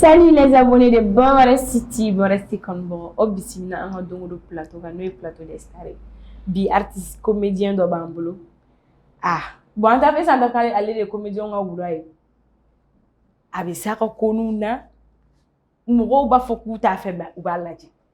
Salut les abonnés de Bonwara City, Bonwara City Kanubagaw, aw bisimila an ka don o don plateau kan n'o ye plateau des stars ye. Bi artiste comédien dɔ b'an bolo. Ah, bon an t'a fɛ sisan an k'a fɔ ale ale de ye comédien ka wura ye. A bɛ s'a ka koɲɛw na, mɔgɔw b'a fɔ k'u t'a fɛ mais u b'a lajɛ.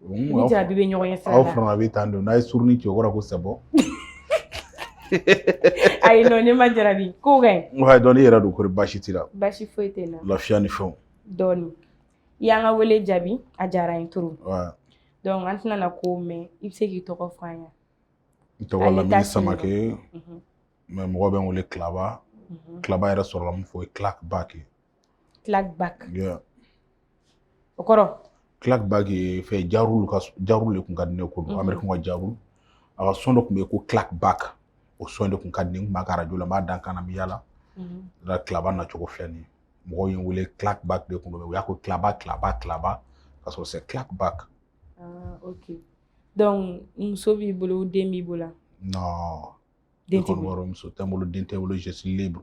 Ni jarabi bɛ ɲɔgɔn ye sa aw fana a bɛ taa don n'a ye surun ni cɛ wɔɔrɔ ko sago ayi ne ma jarabi ko dɔn i yɛrɛ don ko basi t'i la basi foyi tɛ n na lafiya ni fɛnw dɔɔnin i y'an ka wele jaabi a diyara n ye trop dɔnku an tɛna ko mɛn i bɛ se k'i tɔgɔ fɔ an ye n tɔgɔ lamini samakɛ mɛ mɔgɔ bɛ n wele Claba Claba yɛrɛ sɔrɔla mun fɛ clack back Clack back. Yeah. O kɔrɔ? Clack back ye fɛn Ja Rule ka Ja Rule de tun ka di ne ye quoi, Americain ka Ja Rule, a ka son dɔ tun bɛ yen ko clack back o son de tun ka di ne ye, n tun b'a kɛ radio la, n b'a da n kan na, n bɛ yaala, là Claba nacogo filɛ nin ye, mɔgɔw ye n wele clack back de tun don mais u y'a kɛ Claba Claba Claba ka sɔrɔ c'est clack back. Ah ok donc muso b'i bolo den b'i bolo wa? Non, den tɛ n bolo, ne kɔni b'a dɔn muso tɛ n bolo, den tɛ n bolo, je suis libre.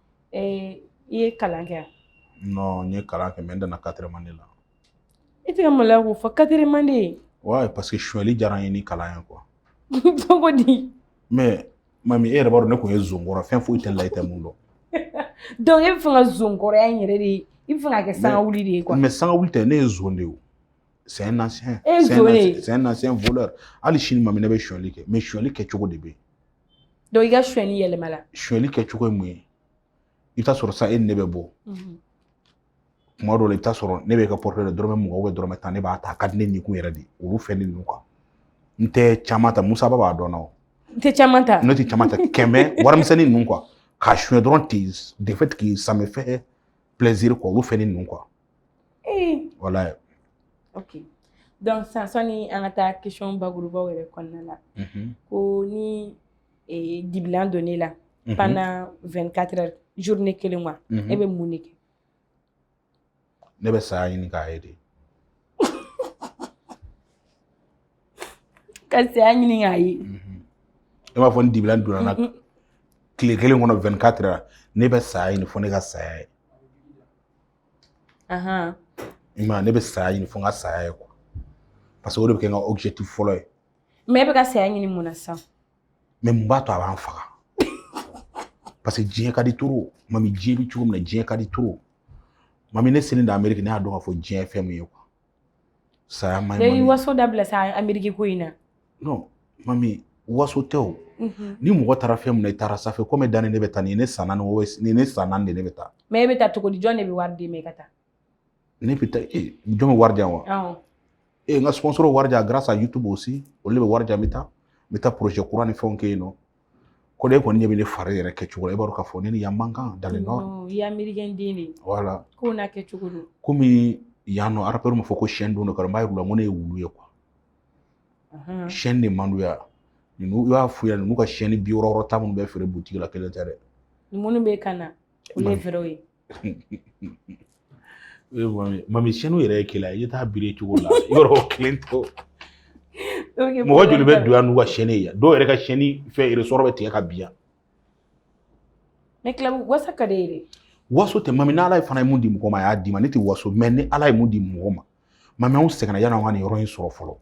ee i ye kalan kɛ non n ye kalan kɛ mɛ n danna quatrième année la i tɛ ka maloya k'o fɔ quatrième année ouais parce que suɲɛli diyara n ye ni kalan ye quoi cogo di mɛ mami e yɛrɛ b'a dɔn ne tun ye zonkɔrɔ fɛn foyi t'i la i tɛ mun dɔn donc e b'a fɛ ka zonkɔrɔya in yɛrɛ de i b'a fɛ k'a kɛ sangawuli de ye quoi mɛ sangawuli tɛ ne ye zon de ye c'est un ancien e zon de c'est un ancien voleur hali sini mami ne bɛ suɲɛli kɛ mɛ suɲɛli kɛcogo de bɛ yen i ka sonyali yɛlɛmala sonyali kɛcogo ye mun ye i bɛ t'a sɔrɔ sa e ni ne bɛ bɔ tuma dɔw la i bɛ t'a sɔrɔ ne bɛ ka pɔrɔtɛ la dɔrɔmɛ mugan ubiyɛn dɔrɔmɛ tan ne b'a ta a ka di ne ni kun yɛrɛ de olu fɛn ninnu kuwa n tɛ caman ta musaba b'a dɔn o n tɛ caman ta ne tɛ caman ta kɛmɛ warimisɛnnin ninnu kuwa k'a suɲɛ dɔrɔn ten de fait que ça me fait plaisir kuwa olu fɛn ninnu kuwa Ee wala ye oke dɔnku sisan sanni an ka taa question bakurubaw yɛrɛ kɔnɔna la ko ni dibilan donna i la pendant 24 heures journée kelen wa e bɛ mun de kɛ ne bɛ saya ɲini k'a ye de ka saya ɲini k'a ye i m'a fɔ ni dibilan donna n na tile kelen kɔnɔ 24 heures ne bɛ saya ɲini fo ne ka saya ye Ahan. I m'a ye ne bɛ saya ɲini fo n ka saya ye quoi parce que o de bɛ kɛ n ka objectif fɔlɔ ye Mais e bɛ ka saya ɲini mun na sisan? mais mun b'a to a b'an faga parce que diɲɛ ka di trop mami diɲɛ bɛ cogo min na diɲɛ ka di trop mami ne selen de Amérique ne y'a dɔn k'a fɔ diɲɛ ye fɛn min ye quoi saya man ɲi waso dabila sa ameriki ko in na non mami waso tɛ o mhm. ni mɔgɔ taara fɛn min na i taara ça fait combien d'années ne bɛ taa ni ne san naani ni ne san naani de ne bɛ taa mais e bɛ taa cogo di jɔn de bɛ wari d'i ma i ka taa ne bɛ taa e jɔn bɛ wari di yan wa e n ka sponsor wari di yan grâce à youtube aussi olu de bɛ wari di yan n bɛ taa n bɛ taa projet kura ni fɛnw kɛ yen nɔ ko de i kɔni ɲɛ bɛ ne fari yɛrɛ kɛ cogo la i b'a dɔn k'a fɔ ne ni yan man kan dans les normes i ye amerikɛn den de voilà ko n'a kɛ cogo don komi yan nɔ arapɛriw ma fɔ ko chaîne don n'o kɛra n b'a yir'u la n ko ne ye wulu ye quoi chaîne de man d'u ye ninnu i b'a f'u ɲɛna ninnu ka sɛni bi wɔɔrɔ wɔɔrɔ ta minnu bɛ feere butigi la kelen tɛ dɛ minnu bɛ n kan na olu ye vraiw ye mami sɛniw yɛrɛ ye kelen ye i t'a biri cogo la yɔrɔ kelen tɛ mɔgɔ joli bɛ don yan n'u ka sɛni ye dɔw yɛrɛ ka sɛni fɛn ressort bɛ tigɛ ka bin yan mais claba waso ka d'i ye dɛ waso tɛ mami ni ala ye fana ye mun di mɔgɔ ma a y'a d'i ma ne tɛ waso mais ni ala ye mun di mɔgɔ ma mami anw sɛgɛnna yann'an ka nin yɔrɔ in sɔrɔ fɔlɔ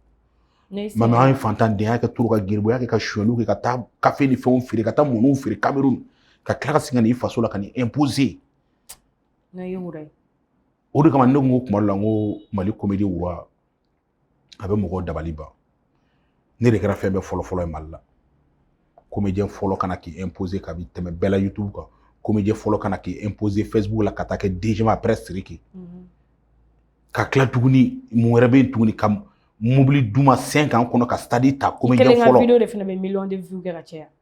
mami an ye fantandenya kɛ trop ka garibuya kɛ ka suyɛliw kɛ ka taa kafe ni fɛnw feere ka taa mɔniw feere kamerun ka tila ka segin ka n'i faso la ka n'i imposer o de kama ne ko kuma dɔ la n ko mali comédie roi a bɛ mɔgɔw dabali ban ne de kɛra fɛn bɛɛ fɔlɔ fɔlɔ ye mali la comédien fɔlɔ ka na k'i imposer ka bi tɛmɛ bɛɛ la youtube kan comédien fɔlɔ ka na k'i imposer facebook la ka taa kɛ deuxième après siriki mhm. ka tila tuguni mun wɛrɛ bɛ yen tuguni ka mobili d'u ma cinq ans kɔnɔ ka stade ta comédien fɔlɔ i kelen ka video de fana bɛ million de vues kɛ ka caya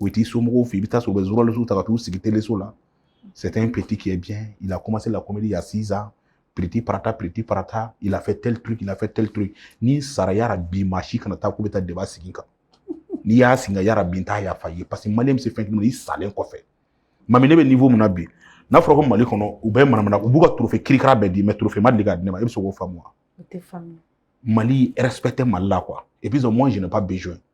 O t'i somɔgɔw fɛ i bɛ taa sɔrɔ u bɛ ta ka t'u sigi teleso la sɛgɛn in pti kɛ bi i la koma se la kɔmimdi ya sisan pti pata pti pata i lafɛ tli to i lafɛ tli to ni sarayara bi maa si kana taa k'u bɛ taa deba sigi kan n'i y'a sigi ka yara bin ta yafa ye parce que mali bɛ se fɛn i salen kɔfɛ ma ne bɛ nin fɔ min na bi n'a fɔra ko mali kɔnɔ u bɛ manamana u b'u ka tufe kirika bɛɛ di mɛ turufɛma de ka di ne ma i bɛ se k'o faamu mali p tɛ mali la qu kuwa i bɛ mɔn jɛnɛba bɛ jɔ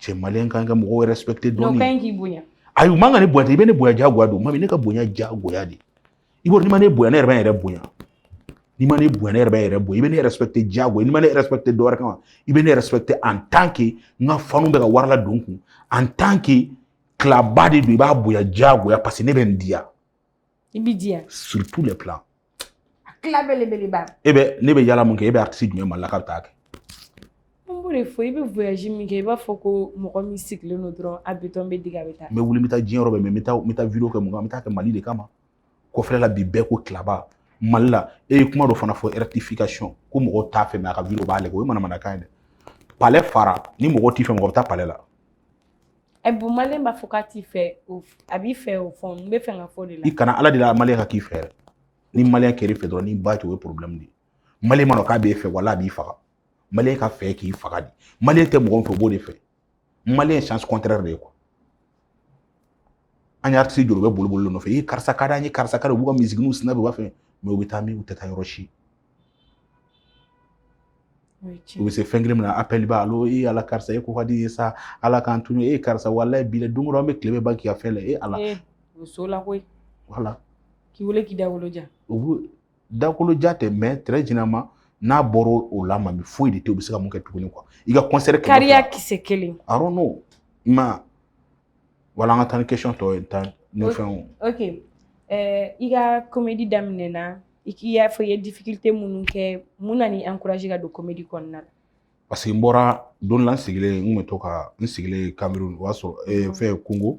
cɛ maliyɛn kan ka mɔgɔw respecter dɔɔni kan k'i bonya ayi u man ka ne bonya i bɛ ne bonya jagoya don mami ne ka bonya jagoya de i b'a dɔn n'i ma ne bonya ne yɛrɛ bɛ n yɛrɛ bonya n'i ma ne bonya ne yɛrɛ bɛ n yɛrɛ bonya i bɛ ne respecter jagoya n'i ma ne respecter dɔ wɛrɛ kama i bɛ ne respecter en tant que n ka fanw bɛ ka wari ladon n kun en tant que claba de don i b'a bonya jagoya parce que ne bɛ n diya i b'i diya sur tous les plans a claba belebeleba e bɛ ne bɛ yala mun kɛ e bɛ artiste jumɛn mali la k'a bɛ taa kɛ an b'o de fɔ i bɛ voyage min kɛ i b'a fɔ ko mɔgɔ min sigilen don dɔrɔn a bitɔn bɛ digi a bɛ taa n bɛ wuli n bɛ taa diɲɛ yɔrɔ bɛɛ mais n bɛ taa n bɛ taa video kɛ mun kan n bɛ taa kɛ mali de kama kɔfɛla la bi bɛɛ ko claba mali la e ye kuma dɔ fana fɔ rectification ko mɔgɔw t'a fɛ mais a ka video b'a lajɛ o ye manamanakan ye dɛ palais fara ni mɔgɔw t'i fɛ mɔgɔ bɛ taa palais la ɛ bon maliyɛn b'a fɔ k'a t'i fɛ o f- a b'i fɛ o fɔ n bɛ fɛ ka fɔ de la i kana ala deli maliyɛn ka k'i fɛ yɛrɛ ni maliyɛn kɛr'i fɛ dɔrɔn n'i ba tɛ o ye problème de ye maliyɛn ma dɔn k'a b'e fɛ wala a b'i faga maliyɛn k'a fɛ k'i faga de maliyɛn tɛ mɔgɔ min fɛ o b'o de fɛ maliyɛn ye sens contraire de ye quoi an ye artiste jɔ u bɛ boli boli nɔfɛ i karisa ka d'an ye karisa ka di u b'u ka misigininw snap u b'a fɛ mais u bɛ taa min u tɛ taa yɔrɔ si u bɛ se fɛn kelen min na appel b'a allô e ala karisa e ko ka di ye sa ala k'an tunu e karisa walayi bi don o don an bɛ tile bɛɛ ban k'i ka fɛn lajɛ ala muso la koyi voilà k'i wele k'i dagolo ja u bɛ dagolo ja tɛ mais très généralement n'a bɔra o la ma bi foyi de tɛ u bɛ se ka mun kɛ tuguni quoi i ka concert kariya kisɛ kelen i don't know man voilà an ka taa ni question tɔ ye tan ni fɛnw ok i ka comédie daminɛ na i y'a fɔ i ye difficulté minnu kɛ mun nan'i encourager ka don comédie kɔnɔna la parce que n bɔra don la n sigilen n tun bɛ to ka n sigilen kamerun o y'a sɔrɔ fɛn kongo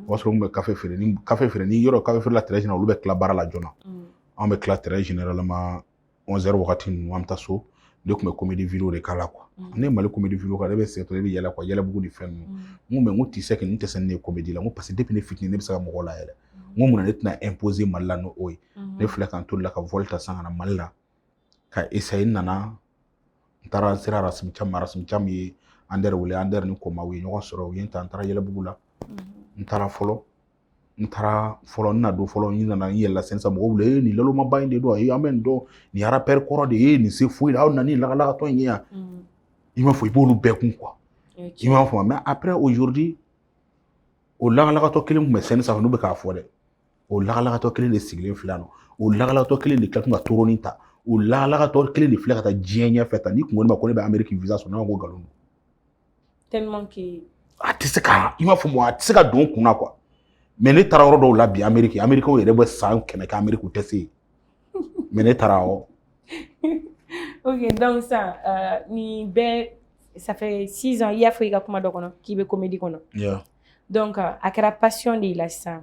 o y'a sɔrɔ n tun bɛ kafe feere ni kafe feereli yɔrɔ kafe feerela très général olu bɛ tila baara la joona anw bɛ tila très généralement 11 heures wagati ninnu an bɛ taa so ne tun bɛ comédie video de k'a la quoi mm. ne ye mali comédie video k'a la ne bɛ sɛgɛtɔ ne bɛ yɛlɛ quoi yɛlɛbugu ni fɛn ninnu mm. n ko mais n ko tu sais que n tɛ se ne ye comédie la n ko parce que depuis ne fitinin ne bɛ se ka mɔgɔw layɛlɛ n ko mun na ne tɛna imposer mali la n'o ye mm-hmm. ne filɛ ka n toli la ka vol ta san ka na mali la ka essayer n nana n taara n sera rasim cam ma rasim cam ye ander wele ander ni koma u ye ɲɔgɔn sɔrɔ u ye n ta n taara yɛlɛbugu la mm-hmm. n taara fɔlɔ n taara fɔlɔ n na don fɔlɔ n nana n yɛlɛla scène sanfɛ mɔgɔw wele ee nin lalomaba in de don ayi an bɛ nin dɔn nin rappeur kɔrɔ de ye nin se foyi la aw nana nin lagalagatɔ in ye yan i m'a fɔ i b'olu bɛɛ kun quoi i m'a fɔ mais après aujourd'hui o lagalagatɔ kelen tun bɛ scène sanfɛ n'u bɛ k'a fɔ dɛ o lagalagatɔ kelen de sigilen filɛ nɔ o lagalagatɔ kelen de kila tun ka trône in ta o lagalagatɔ kelen de filɛ ka taa diɲɛ ɲɛfɛ tan n'i kun ko ne ma ko ne bɛ ameriki visa sɔrɔ ne ma ko nkalon don tellement que a tɛ se ka i m'a fɔ mɔgɔ a tɛ se ka don kun na quoi mais ne taara yɔrɔ dɔw la bi ameriki amerikaw yɛrɛ bɛ san kɛmɛ kɛ ameriki u tɛ se yen mais ne taara ɔ ok donc san euh, nin bɛɛ ça fait six ans i y'a fɔ i ka kuma dɔ kɔnɔ k'i bɛ comédie kɔnɔ yeah. donc euh, a kɛra passion de y'i la sisan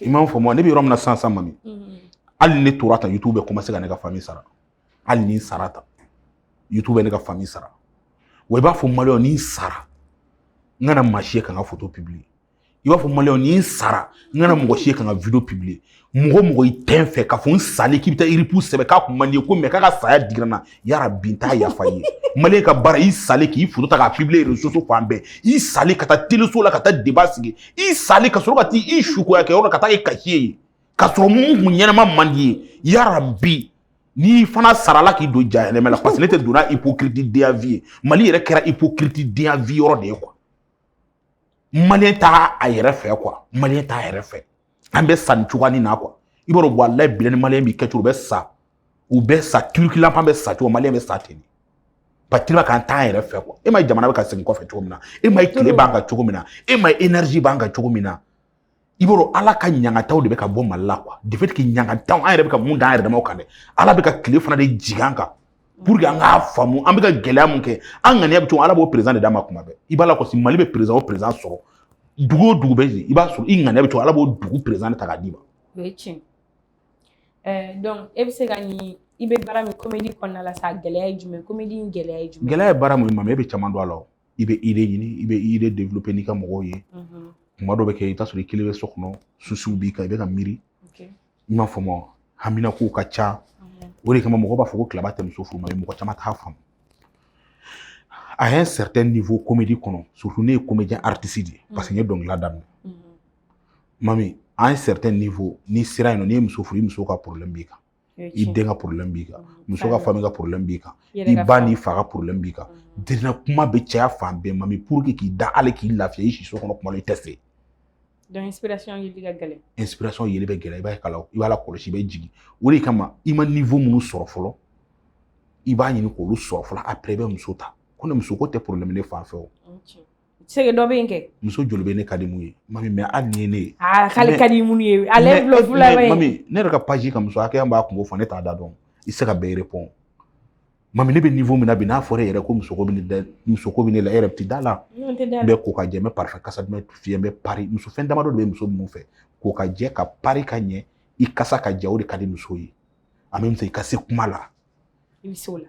i m'a fɔ ma ne bɛ yɔrɔ min na sisan sisan mami hali ni ne tora tan youtube bɛ commencer ka ne ka famille sara hali ni n sara tan youtube bɛ ne ka famille sara wa i b'a fɔ maliyɛn ni n sara n kana maa si ye ka n ka foto publier i b'a fɔ maliyɛn ni n sara n kana mɔgɔ si ye ka n ka video publier mɔgɔ mɔgɔ i tɛ n fɛ k'a fɔ n salen k'i bɛ taa rip sɛbɛn k'a kun man di n ye quoi mais k'a ka saya digira n na yarabi n t'a yafa i ye maliyɛn ka baara i salen k'i foto ta k'a publier réseaux sociaux fan bɛɛ i salen ka taa teleso la ka taa débat sigi i salen ka sɔrɔ ka taa i sukoya kɛ yɔrɔ ka taa kɛ kasiye ye ka sɔrɔ mun kun ɲɛnama man d'i ye yarabi n'i fana sara ala k'i don jahanama la parce que ne tɛ donna hypocrite denya vie ye mali yɛrɛ kɛra hypocrite denya vie yɔrɔ de ye quoi maliyɛn t'a yɛrɛ fɛ quoi maliyɛn t'a yɛrɛ fɛ an bɛ sa ni cogoya nin na quoi i b'a dɔn walayi bilahi maliyɛn b'i kɛ cogo u bɛ sa u bɛ sa tuluki lanpan bɛ sa cogo maliyɛn bɛ sa ten patirima k'an t'an yɛrɛ fɛ quoi e m'a ye jamana bɛ ka segin kɔfɛ cogo min na e m'a ye tile b'an kan cogo min na e m'a ye énergie b'an kan cogo min na i b'a dɔn ala ka ɲangataw de bɛ ka bɔ mali la quoi de fait que ɲangataw an yɛrɛ bɛ ka mun da an yɛrɛ damaw kan dɛ ala bɛ ka tile fana de jigin an kan pour que an k'a faamu an bɛ ka gɛlɛya mun kɛ an ŋaniya bɛ cogo ala b'o président de d'an ma kuma bɛɛ i b'a la kɔsi mali bɛ président o président sɔrɔ dugu o dugu bɛ yen i b'a sɔrɔ i ŋaniya bɛ cogo ala b'o dugu président de ta k'a d'i ma o ye tiɲɛ ɛɛ donc e bɛ se ka nin i bɛ baara min komedi kɔnɔna la sa gɛlɛya ye jumɛn komedi in gɛlɛya ye jumɛn gɛlɛya ye baara mun ye mama e bɛ caman don a la o i bɛ idée ɲini i bɛ idée développer n'i ka mɔgɔw ye kuma dɔ bɛ kɛ i bɛ t'a sɔrɔ i kelen bɛ so kɔnɔ souciw b'i kan i bɛ ka miiri i m'a faamu wa hamina kow ka ca o de kama mɔgɔ b'a fɔ ko claba tɛ muso furu mais mɔgɔ caman t'a faamu à un certain niveau comédie kɔnɔ surtout ne ye comédien artiste de ye parce que n ye dɔnkilida daminɛ mami à un certain niveau n'i sera yen nɔ n'i ye muso furu i muso ka problème b'i kan i den ka porobilɛmu b'i kan muso ka famille ka porobilɛmu b'i kan i ba n'i fa ka porobilɛmu b'i kan dina kuma bɛ caya fan bɛɛ mami pour que k'i da hali k'i lafiya i si so kɔnɔ kuma la i tɛ se inspiration yeli ka gɛlɛn inspiration yeli bɛ gɛlɛya i b'a kala i b'a lakɔlɔsi i bɛ jigin o de kama i ma niveau minnu sɔrɔ fɔlɔ i b'a ɲini k'olu sɔrɔ fɔlɔ après i bɛ muso ta ko ne muso ko tɛ porobilɛmu ne fan fɛ o sege dɔ bɛ yen kɛ muso joli bɛ ne ka di minnu ye mami mais hali ni ye ne ye aa k'ale ka di mun ye ale ye bulon fila ye mami ne yɛrɛ ka page ka muso hakɛya b'a kungo fɔ ne t'a da dɔn i se ka bɛɛ répondre mami ne bɛ niveau min na bi n'a fɔra e yɛrɛ ko musoko bɛ ne da musoko bɛ ne la e yɛrɛ tɛ da a la n bɛ ko ka jɛ n bɛ parfum kasa duman fiyɛ n bɛ pari muso fɛn damadɔ de bɛ muso minnu fɛ ko ka jɛ ka pari ka ɲɛ i kasa ka diya o de ka di muso ye en même temps i ka se kuma la i bɛ se o la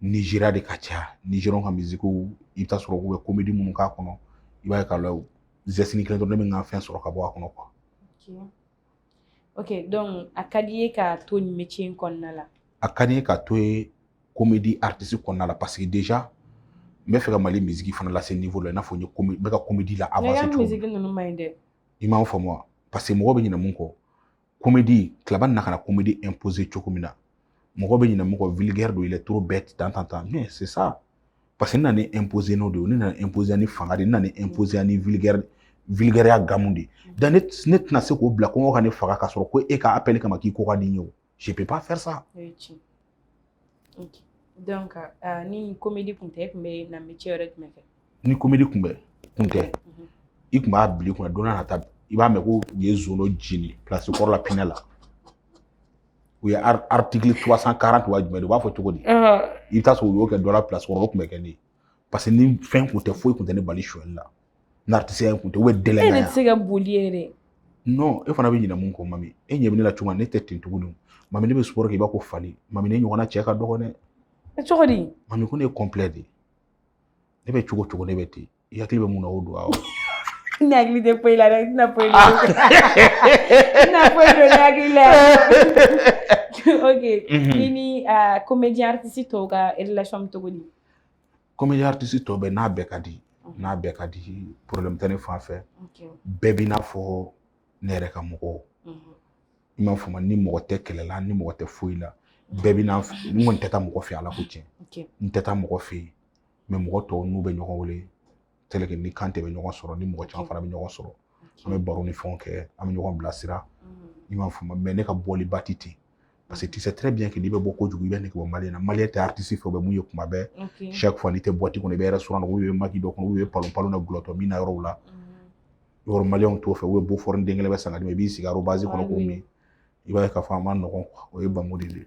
nizeriya de ka caya nizeriya ka misikiw i bɛ t'a sɔrɔ u bɛ komedi minnu k'a kɔnɔ i b'a ye k'a lajɛ zɛsini kelen dɔrɔn ne bɛ ka fɛn sɔrɔ ka bɔ a kɔnɔ ok donc a ka d'i ye ka to nin métier in kɔnɔna la a ka di n ye ka to yen komedi artiste kɔnɔna la parce que déjà n bɛ fɛ ka mali misiki fana lase niveau la i n'a fɔ n ye n bɛ ka komedi la avancer cogo min na misiki ninnu man ɲi dɛ i m'a faamu wa parce que mɔgɔ bɛ ɲinɛ mun kɔ komedi claba nana ka na komedi imposer cogo min na mɔgɔ bɛ ɲinɛ mun kɔ vulgaire don il est trop bête tan tan tan mais c'est ça parce que n nana imposer n'o de ye ne nana imposer ni fanga de ye n nana imposer ni vulgaire vulgaire gamu de ye donc ne tɛna se k'o bila kɔngɔ ka ne faga ka sɔrɔ ko e ka appel kama k'i ko ka di n ye o je peux pas faire ça donc ah, ni komedi kun tɛ e kun bɛ na metiye wɛrɛ jumɛn kɛ ni komedi kun bɛ kun tɛ mhm. i kun b'a bil'i kunna don n'a nata i b'a mɛn ko u ye zon jeni pilasi kɔrɔ la pinɛ la u ye artikili trois cent quarante wa jumɛn de u b'a fɔ cogo di i bɛ taa sɔrɔ u y'o kɛ dɔ la pilasi kɔrɔ o kun bɛ kɛ ne ye parce que ni fɛn kun tɛ foyi kun tɛ ne bali sonyali la n'aritisiya kun tɛ u bɛ dɛlɛ e tɛ se ka boli yɛrɛ non e fana bɛ ɲinɛ mun kɔ mami e ɲɛ bɛ ne la cogo min ne tɛ ten tuguni mami ne bɛ sport k'i b'a ko fali mami ne ɲɔgɔnna cɛ ka dɔgɔn dɛ e cogo di mami ko ne ye complet de ne bɛ cogo cogo ne bɛ ten i hakili bɛ mun na o don awɔ ne hakili tɛ foyi la dɛ n tɛna foyi don ah. n tɛna foyi don ne hakili la ok i ni comédien artiste tɔw ka relation bɛ cogo di comédien aritisi tɔ bɛɛ n'a bɛɛ ka di n'a bɛɛ ka di porobilɛmu tɛ ne fan fɛ bɛɛ b'i n'a fɔ ne yɛrɛ ka mɔgɔw i m'a faamu ni mɔgɔ tɛ kɛlɛ la ni mɔgɔ tɛ foyi la bɛɛ b'i n'a fɔ n kɔni tɛ taa mɔgɔ fɛ ala ko tiɲɛ n tɛ taa mɔgɔ fɛ yen mɛ mɔgɔ tɔw n'u bɛ ɲɔgɔn wele ni Kante bɛ ɲɔgɔn sɔrɔ ni mɔgɔ caman fana bɛ ɲɔgɔn sɔrɔ an bɛ baro ni fɛnw kɛ an bɛ ɲɔgɔn bilasira i m'a faamu mɛ ne ka bɔli ba ti ten parce que tu sais très bien que n'i bɛ bɔ kojugu i bɛ nege bɔ maliyɛn na maliyɛn tɛ aritisi fɛ bɛ mun ye kuma bɛɛ chaque fois n'i tɛ boîte kɔnɔ i bɛ restaurant ou i bɛ maki dɔ kɔnɔ ou i bɛ palon palon na gulɔtɔ min na yɔrɔw la yɔrɔ maliyɛnw t'o fɛ u bɛ Beaufort den kelen bɛ san ka d'i ma i b'i sigi arobasi kɔnɔ k'o min i b'a ye k'a fɔ a ma nɔgɔn o ye bamu de ye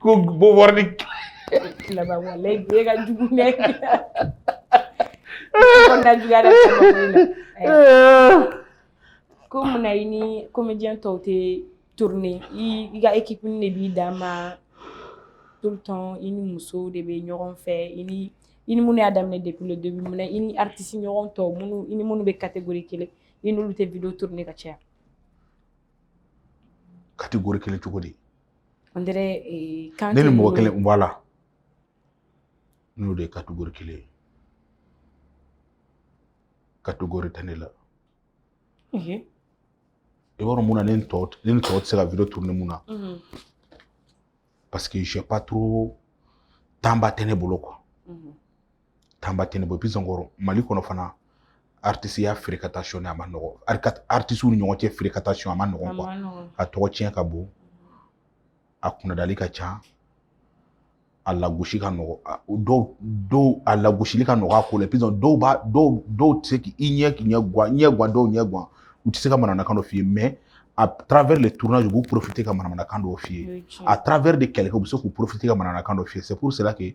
ko Beaufort ni laban wala e ka jugu ne kɔnɔna juguya dɛ ko munna i ni comédien tɔw tɛ tourner i ka équipe de b'i dan ma tout le temps i ni musow de bɛ ɲɔgɔn fɛ i ni i ni minnu y'a daminɛ depuis le début munna i ni artiste ɲɔgɔn tɔw minnu i ni minnu bɛ catégorie kelen i n'olu tɛ video tourner ka caya kategori kelen cogo di ne ni mɔgɔ kelen voilà n'o de ye kategori kelen ye kategori tɛ ne la i b'a dɔn mun na ne ni tɔw ne ni tɔw tɛ se ka video tourner mun na parce que j'ai pas trop temps ba tɛ ne bolo quoi temps ba tɛ ne bolo puis encore mali kɔnɔ fana artisiya fréquentation a ma nɔgɔ artisiw ni ɲɔgɔn cɛ fréquentation a ma nɔgɔ quoi a tɔgɔ tiɲɛ ka bon a kunnadali ka ca a lagosi ka nɔgɔ dɔw dɔw a lagosili ka nɔgɔ a ko la puis dɔw b'a dɔw dɔw tɛ se k'i ɲɛ k'i ɲɛ guwa ɲɛ guwa dɔw ɲɛ guwa u tɛ se ka manamanakan dɔ f'i ye mɛ à travers le tournage u b'u profiter ka manamanakan dɔw f'i ye à travers de quelqu'un u bɛ se k'u profiter ka manamanakan dɔ f'i ye c'est pour cela que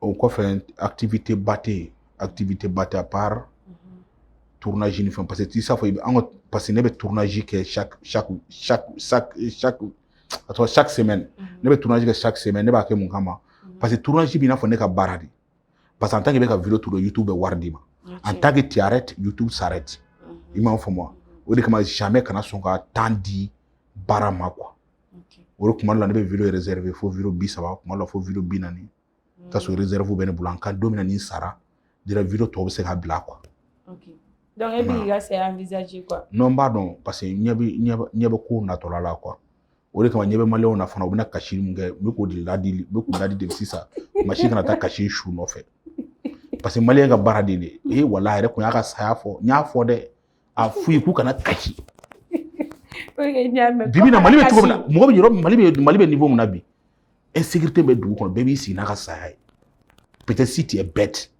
o kɔfɛ activité ba tɛ yen activité ba tɛ à part mhm. tournage ni fɛn parce que t'i s'a fɔ i bɛ an ka parce que ne bɛ tournage kɛ chaque chaque chaque chaque chaque a tɔgɔ chaque semaine mhm. ne bɛ tournage kɛ chaque semaine ne b'a kɛ mun kama mhm. parce que tournage b'i n'a fɔ ne ka baara de parce que en tant que bɛ ka vidéo tourner YouTube bɛ wari d'i ma en tant que tu arrêtes YouTube s'arrête i m'a faamu wa o de kama jamais kana sɔn ka temps di baara ma quoi o de kuma dɔ la ne bɛ vidéo réserver fo vidéo bi saba kuma dɔ la fo vidéo bi naani ka sɔrɔ réserve bɛ ne bolo en cas don min ni sara dira vidéo tɔw bɛ se ka bila quoi okay. donc e b'i ka saya envisager quoi non n b'a dɔn parce que ɲɛ bɛ ɲɛ bɛ ko natɔla la quoi o de kama ɲɛ bɛ maliyɛnw na fana u bɛna kasi min kɛ n bɛ k'o de ladi n bɛ k'u ladi de sisan maa si kana taa kasi su nɔfɛ parce que maliyɛn ka baara de ye ee wala a yɛrɛ kun y'a ka saya fɔ n y'a fɔ dɛ a f'u ye k'u kana kasi bibi na mali bɛ cogo min na mɔgɔ bɛ yɔrɔ mali bɛ mali bɛ niveau min na bi insécurité bɛ dugu kɔnɔ bɛɛ b'i sigi n'a ka saya ye peut-être si tu es bête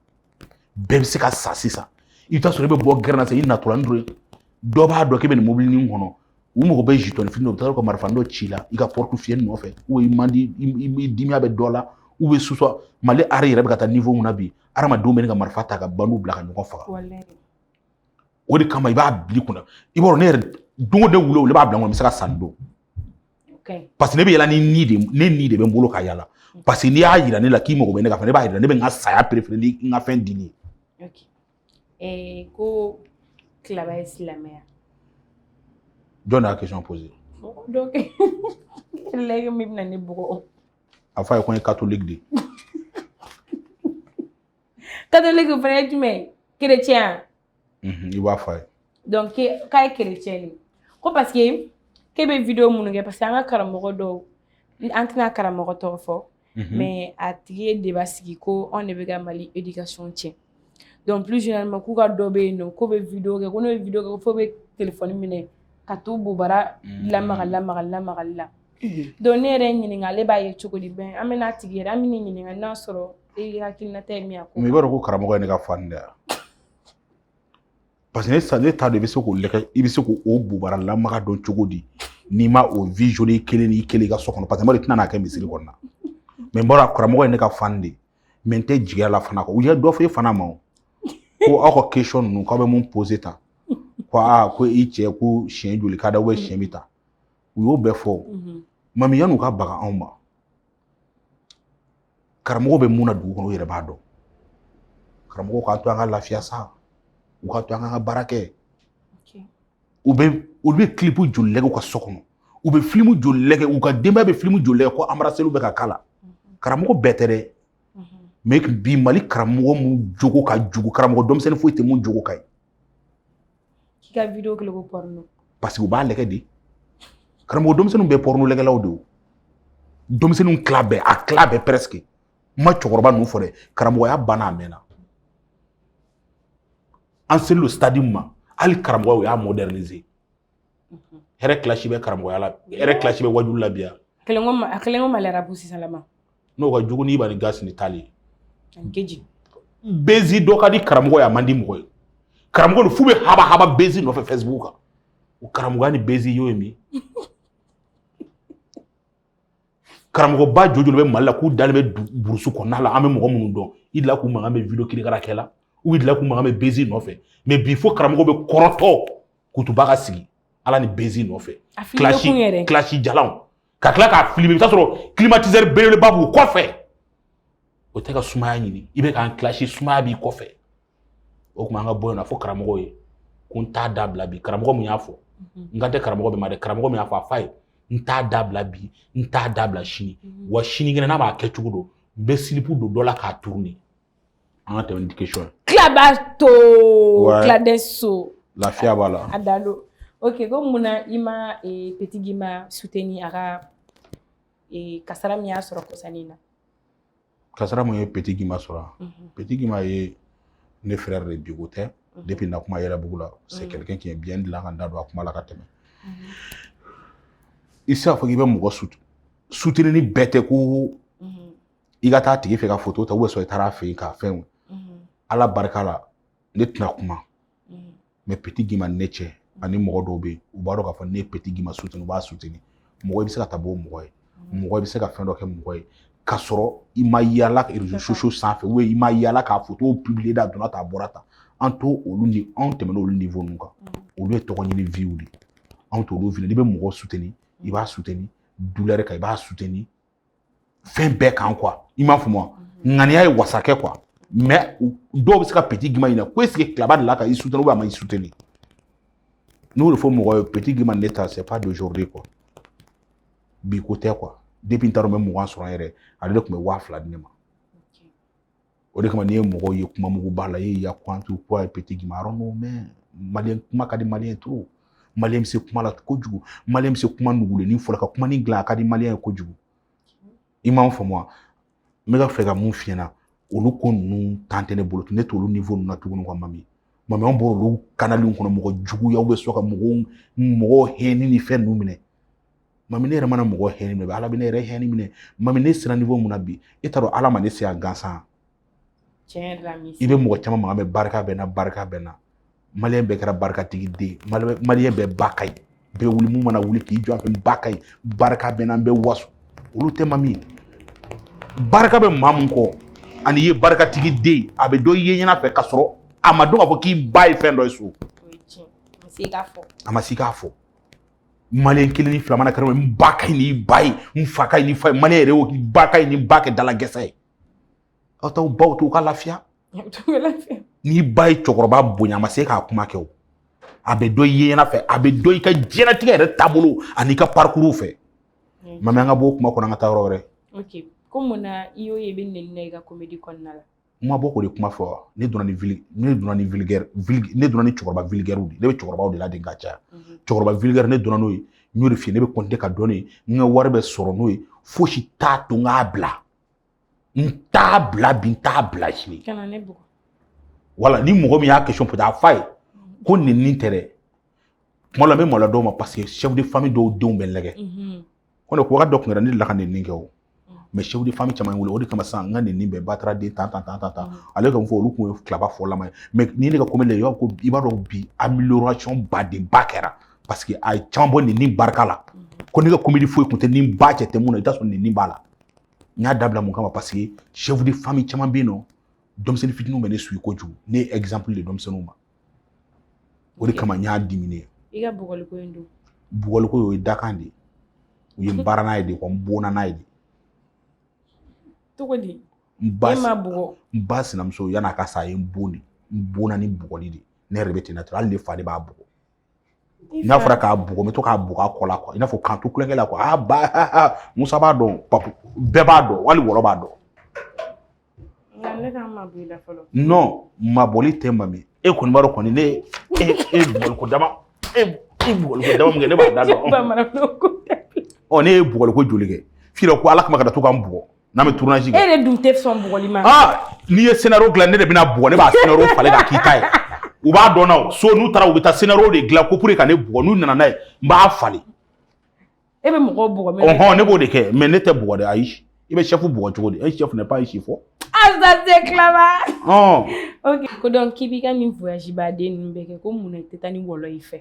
bɛɛ bɛ se ka sa sisan i bɛ taa sɔrɔ i bɛ bɔ gɛrɛn na sisan i natɔla ni dɔ ye dɔ b'a dɔn k'i bɛ nin mobili nin kɔnɔ u mago bɛ jeton fini dɔ u bɛ taa ka marifa dɔ ci i la i ka portefeuille nɔfɛ ou i man di i dimiya bɛ dɔ la u bɛ susɔ mali hali yɛrɛ bɛ ka taa niveau min na bi hadamadenw bɛ ne ka marifa ta ka banu bila ka ɲɔgɔn faga o de kama i b'a bila i kun na i b'a dɔn ne yɛrɛ don o don wuli n b'a bila n kɔnɔ n bɛ se ka sa nin don parce que ne bɛ yala ni ni de ne ni de bɛ n bolo ka yala mm. parce que n'i y'a yira ne la k'i mago bɛ ne ka fɛn na n b'a yira ne bɛ n ka saya préférer ni n ka fɛn dili ye. Eh, ko tilaba ye silamɛya. jɔn de y'a question posé. donc lɛgɛ min bɛna ne bugɔ. a fɔ a ye ko n ye catholique de ye. katoliki fana ye jumɛn ye kerecɛnya mhm, i b'a fɔ a ye donc k'a ye kerecɛn de ko parce que k'e bɛ video minnu kɛ parce que an ka karamɔgɔ dɔw an tɛna karamɔgɔ tɔgɔ fɔ mhm. mais a tigi ye débat sigi ko anw de bɛ ka mali éducation tiɲɛ donc plus généralement k'u ka dɔ bɛ yen nɔ k'o bɛ video kɛ ko n'o ye video kɛ ko fo bɛ telefɔni minɛ ka t'u bobara mhm. lamaga lamaga lamagali la donc ne yɛrɛ ɲininka ale b'a ye cogo di bon an bɛn'a tigi yɛrɛ an bɛ ɲininka n'a sɔrɔ e hakilinata ye min ye i b'a dɔn ko karamɔgɔ ye ne ka fan de ye parce que ne sa ne t'a dɔn i bɛ se k'o lɛkɛ i bɛ se k'o bobara lamaga dɔn cogo di n'i ma o visionner kelen n'i kelen i ka so kɔnɔ parce que mɔgɔ de tɛna n'a kɛ misiri kɔnɔna mais n b'a dɔn karamɔgɔ ye ne ka fan de mais n tɛ jigi a la fana quoi u ye dɔ fɔ e fana ma o ko aw ka question ninnu k'aw bɛ mun poser tan ko aa ko i cɛ ko siɲɛ joli ka da siɲɛ bɛ ta u y'o bɛɛ fɔ mami yan'u ka baga anw ma karamɔgɔ bɛ mun na dugu kɔnɔ u yɛrɛ b'a dɔn karamɔgɔ k'a to an ka lafiya sa u k'a to an ka baara kɛ u bɛ olu bɛ kilipu joli lɛgɛ u ka so kɔnɔ u bɛ filimu joli lɛgɛ u ka denbaya bɛ filimu joli lɛgɛ ko anbaraseliw bɛ ka k'a la karamɔgɔ bɛɛ tɛ dɛ mais bi mali karamɔgɔ mun jogo ka jugu karamɔgɔ denmisɛnnin foyi tɛ mun jogo ka ɲi k'i ka video kɛlɛ ko pɔrɔno parce que u b'a lɛgɛ de karamɔgɔ denmisɛnninw bɛɛ pɔrɔno lɛgɛlaw de o denmisɛnninw tila bɛɛ a tila bɛɛ presque n ma cɛkɔrɔba ninnu fɔ dɛ karamɔgɔya banna a mɛnna an selen lo stade min ma hali karamɔgɔya u y'a moderniser hɛrɛ kilasi bɛ karamɔgɔya la hɛrɛ kilasi bɛ waajuli la bi yan kɛlen ko a kɛlen ko Mali rapu sisan lama n'o ka jugu n'Iba ni Gaspi ni Tal ani KJ bezi dɔ ka di karamɔgɔ ye a man di mɔgɔ ye karamɔgɔ don f'u bɛ haba haba bezi nɔfɛ facebook kan o karamɔgɔya ni bezi y'o ye min karamɔgɔba jojoli bɛ mali la k'u dalen bɛ burusu kɔnɔna la an bɛ mɔgɔ minnu dɔn i delila k'u mankan mɛn video kirikara kɛ la u delila k'u mankan mɛn bezi nɔfɛ mais bi fo karamɔgɔ bɛ kɔrɔtɔ kutuba ka sigi ala ni bezi nɔfɛ kilasi jalanw ka tila k'a filmer i bɛ t'a sɔrɔ climatiseur belebeleba b'u kɔfɛ o tɛ ka sumaya ɲini i bɛ k'an kilasi sumaya b'i kɔfɛ o tuma an ka bɔ yen na fɔ karamɔgɔ ye ko n t'a dabila bi karamɔgɔ min y'a fɔ mhm. n kan tɛ karamɔgɔ bɛɛ ma dɛ karamɔgɔ min y'a fɔ a fa ye n t'a dabila bi n t'a dabila sini mhm. wa sinikɛnɛ n m'a kɛcogo dɔn n bɛ silipu don dɔ la k'a tourner An ka tɛmɛ ni question ye. Kilaba too. Wɛ. Kiladen so. Lafiya b'a la. A Dalo. Ok ko mun na i ma ee Petit Guimba soutenir a ka ee kasara min y'a sɔrɔ kɔsani in na? Kasara mun ye Petit Guimba sɔrɔ a? Unhun. Petit Guimba ye ne frère de bi ko tɛ depuis na kuma Yɛlɛbugu la. C'est quelqu'un qui est bien n delila ka n da don a kuma la ka tɛmɛ. Unhun. I tɛ se k'a fɔ k'i bɛ mɔgɔ soute soutenir ni bɛɛ tɛ ko i ka taa a tigi fɛ ka foto ta sɔrɔ i taara a fɛ yen ka fɛnw mhm. ala barika la ne tɛna kuma mhm. mais Petit Guimba ne cɛ ani mɔgɔ dɔw bɛ yen u b'a dɔn k'a fɔ ne ye Petit Guimba suteni u b'a suteni mɔgɔ i bɛ se ka taa bɔ mɔgɔ ye mhm. mɔgɔ i bɛ se ka fɛn dɔ kɛ mɔgɔ ye ka sɔrɔ i ma yaala rezo sosiyo sanfɛ ou i ma yaala k'a foto pibiliye da donna ta a bɔra ta an to olu ni anw tɛmɛna olu niwo ninnu kan olu ye tɔgɔ ɲini viw de anw t'olu fili n'i bɛ mɔgɔ suteni i b'a suteni dulɛri kan i b'a suteni fɛn bɛɛ kan kuwa i m'a faamu wa ŋaniya ye wasa kɛ kuwa mais dɔw bɛ se ka Petit Guimba ɲininka ko esike kilaba delila ka i suteni ubiyɛn a ma i suteni ne y'o de fɔ mɔgɔ ye Petit Guimba ne ta c'est pas d'aujourd'hui quoi bi ko tɛ quoi depuis n taara n bɛ mugan sɔrɔ n yɛrɛ ale de tun bɛ waa fila di ne ma o de kama n'i ye mɔgɔw ye kuma mugu b'a la i ye yakutu ko a ye Petit Guimba yɔrɔ non mais maliyɛn kuma ka di maliyɛn ye trop maliyɛn bɛ se kuma la kojugu maliyɛn bɛ se kuma nugulennin fɔ la ka kuma nin dilan a ka di maliyɛn ye kojugu i ma n faamu wa n bɛ ka fɛ ka mun f'i ɲɛna olu ko ninnu tan tɛ ne bolo ne t'olu niwo ninnu na tuguni quoi mami mami an bɔr'olu kanaliw kɔnɔ mɔgɔ juguya bɛ sɔn ka mɔgɔw mɔgɔw hɛni ni fɛn ninnu minɛ Mami ne yɛrɛ mana mɔgɔ hɛni minɛ ala bɛ ne yɛrɛ hɛni minɛ mami ne sera niwo mun na bi e t'a dɔn ala ma ne se gansan i bɛ mɔgɔ caman mankan mɛn barika bɛ n na barika bɛ n na maliyɛn bɛɛ kɛra barikatigi den maliyɛn bɛɛ ba ka ɲi bɛɛ wuli mun mana wuli k'i jɔ a fɛ ba ka ɲi barika bɛ n na n bɛ waso olu tɛ mami barika bɛ maa mun kɔ ani i ye barikatigi den a bɛ dɔn i ye ɲɛna fɛ k'a sɔrɔ a ma dɔn k'a fɔ k'i ba ye fɛn dɔ ye so a ma se k'a fɔ maliyɛn kelen ni fila mana kɛlɛ n ba ka ɲi n'i ba ye n fa ka ɲi n'i fa ye maliyɛn yɛrɛ y'o k'i ba ka ɲi ni n ba kɛ dalagɛsɛ ye aw t'aw baw to u ka lafiya n'i ba ye cɛkɔrɔba bonya a ma se k'a kuma kɛ o a bɛ dɔn i ye ɲɛna fɛ a bɛ dɔn i ka diɲɛnatigɛ yɛrɛ taabolo an'i ka parikuru fɛ mami an ka b'o kuma kɔnɔ an ka taa yɔrɔ wɛrɛ ko mun na i y'o ye i bɛ nɛni na i ka komedi kɔnɔna la n ma bɔ k'o de kuma fɔ ne dɔnna ni vili ne dɔnna ni viligɛri vili ne dɔnna ni cɛkɔrɔba viligɛriw de ne bɛ cɛkɔrɔbaw de ladege ka caya mhm. cɛkɔrɔba viligɛri ne dɔnna n'o ye n y'o de f'i ye ne bɛ continuer ka dɔn n'o ye n ka wari bɛ sɔrɔ n'o ye fosi t'a to n k'a bila n t'a bila bi n t'a bila sini wala ni mɔgɔ min y'a question poser a f'a ye mhm. ko nɛni tɛ dɛ kuma la n bɛ maloya dɔw ma parce que chef de famille dɔw denw bɛ n lajɛ mhm. ko ne ko wagati dɔ kun kɛra ne delila ka nɛni kɛ o mɛ chef de famille caman wele o de kama sisan n ka nɛni bɛɛ batara den tan tan tan tan tan ale ka fɔ olu kun ye Claba fɔlama ye mɛ ni ne ka komedi la i b'a dɔn bi amélioration badenba kɛra parce que a ye caman bɔ nɛni barika la ko ne ka komedi foyi kun tɛ n'i ba cɛ tɛ mun na i t'a sɔrɔ nɛni b'a la n y'a dabila mun kama parce que chef de famille caman bɛ yen n'u denmisɛnnin fitininw bɛ ne suivre kojugu ne ye exemple de denmisɛnninw ma o de kama n y'a diminuer i ka bugɔliko in don bugɔliko o ye dakan de ye u ye n baara n'a ye de ko n bonna n'a ye de cogo di n ba e ma bugɔ n ba sinamuso yan'a ka sa a ye n bon de n bonna ni bugɔli de ne yɛrɛ de bɛ ten na hali ne fa de b'a bugɔ n'a fɔra k'a bugɔ n bɛ to k'a bugɔ a kɔ la i n'a fɔ k'a to tulonkɛ la a ba musa b'a dɔn papu bɛɛ b'a dɔn hali wɔlɔ b'a dɔn non mabɔli tɛ mami e kɔni b'a dɔn kɔni ne e e bugɔliko dama e e bugɔliko dama min kɛ ne b'a da dɔn ɔ ne ye bugɔliko joli kɛ f'i ko ala kama kana to ka n bugɔ n'an bɛ tournage kɛ e yɛrɛ dun tɛ sɔn bugɔli ma aa n'i ye scénario dilan ne de bɛna bugɔ ne b'a scénario falen k'a k'i ta ye u b'a dɔn na o so n'u taara u bɛ taa scénario de dilan ko pour que ka ne bugɔ n'u nana n'a ye n b'a falen e bɛ mɔgɔw bugɔ mais ɔhɔn ne b'o de kɛ mais ne tɛ bugɔ dɛ ayi i bɛ chef bugɔ cogo di un chef n'est pas un chiffon ah ça c'est clair bon ok ko donc k'i b'i ka nin voyage baden ninnu bɛɛ kɛ ko mun na i tɛ taa ni wɔlɔ y'i fɛ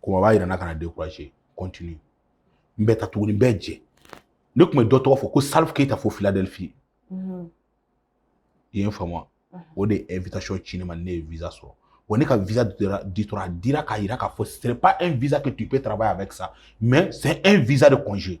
kuma b'a yira n na kana décourager continue n bɛ taa tuguni n bɛ jɛ ne tun bɛ dɔ tɔgɔ fɔ ko salifu keyita fo Philadelphie mhm. i ye n faamu mhm. o de ye invitation ci ne ma ne ye visa sɔrɔ wa ne ka visa ditora a dira k'a yira k'a fɔ c'est pas un visa que tu peux travailler avec ça mais c'est un visa de congé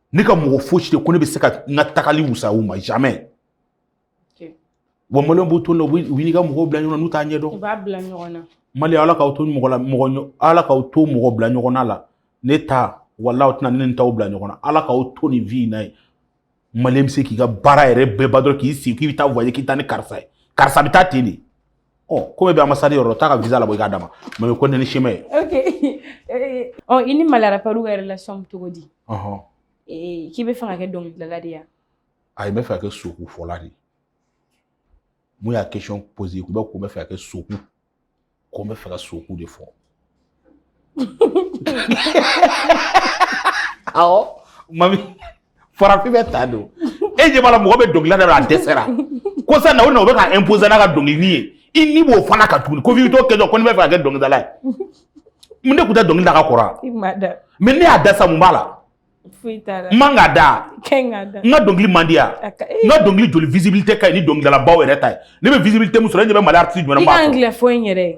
ne ka mɔgɔ fosi tɛ ko ne bɛ se ka n ka tagali wusaya u ma jamais wa maliyɛnw b'u to nin na u b'i n'i ka mɔgɔw bila ɲɔgɔn na n'u t'a ɲɛdɔn u b'a bila ɲɔgɔn na maliyɛn ala k'aw to mɔgɔ la mɔgɔ ala k'aw to mɔgɔ bila ɲɔgɔn na la ne ta walayi aw tɛna ne ni n taw bila ɲɔgɔn na ala k'aw to nin vie in na ye maliyɛn bɛ se k'i ka baara yɛrɛ bɛɛ ban dɔrɔn k'i sigi k'i bɛ taa voyage k'i taa ni karisa ye karisa bɛ taa ten de ɔ komi i bɛ ambassade yɔrɔ taa ka visa labɔ i k'a d'a ma mais ko ne ni sima ye ok ɔ i ni mali rappeurw ka relation bɛ cogo di k'i bɛ fɛ ka kɛ dɔnkilidala de ye ayi n bɛ fɛ ka kɛ sokufɔla de mun y'a question poser ko n bɛ ko n bɛ fɛ ka kɛ soku ko n bɛ fɛ ka soku de fɔ awɔ mami farafin bɛɛ ta don e ɲɛ b'a la mɔgɔ bɛ dɔnkili da la a dɛsɛra ko sa na o na o bɛ ka imposer n'a ka dɔnkili ye i ni b'o fana kan tuguni ko f'i t'o kɛ dɔrɔn ko n'i bɛ fɛ ka kɛ dɔnkilidala ye mun de tun tɛ dɔnkili da ka kɔrɔ wa i m'a da mais ne y'a da sa mun b'a la foyi t'a la n man ka da kɛ n ka da n ka dɔnkili man di yan A ka- n ka dɔnkili joli visibilité ka ɲi ni dɔnkilidalabaw yɛrɛ ta ye ne bɛ visibilité min sɔrɔ e ɲɛ bɛ mali artiste jumɛn na min b'a sɔrɔ i ka angilɛ fɔ in yɛrɛ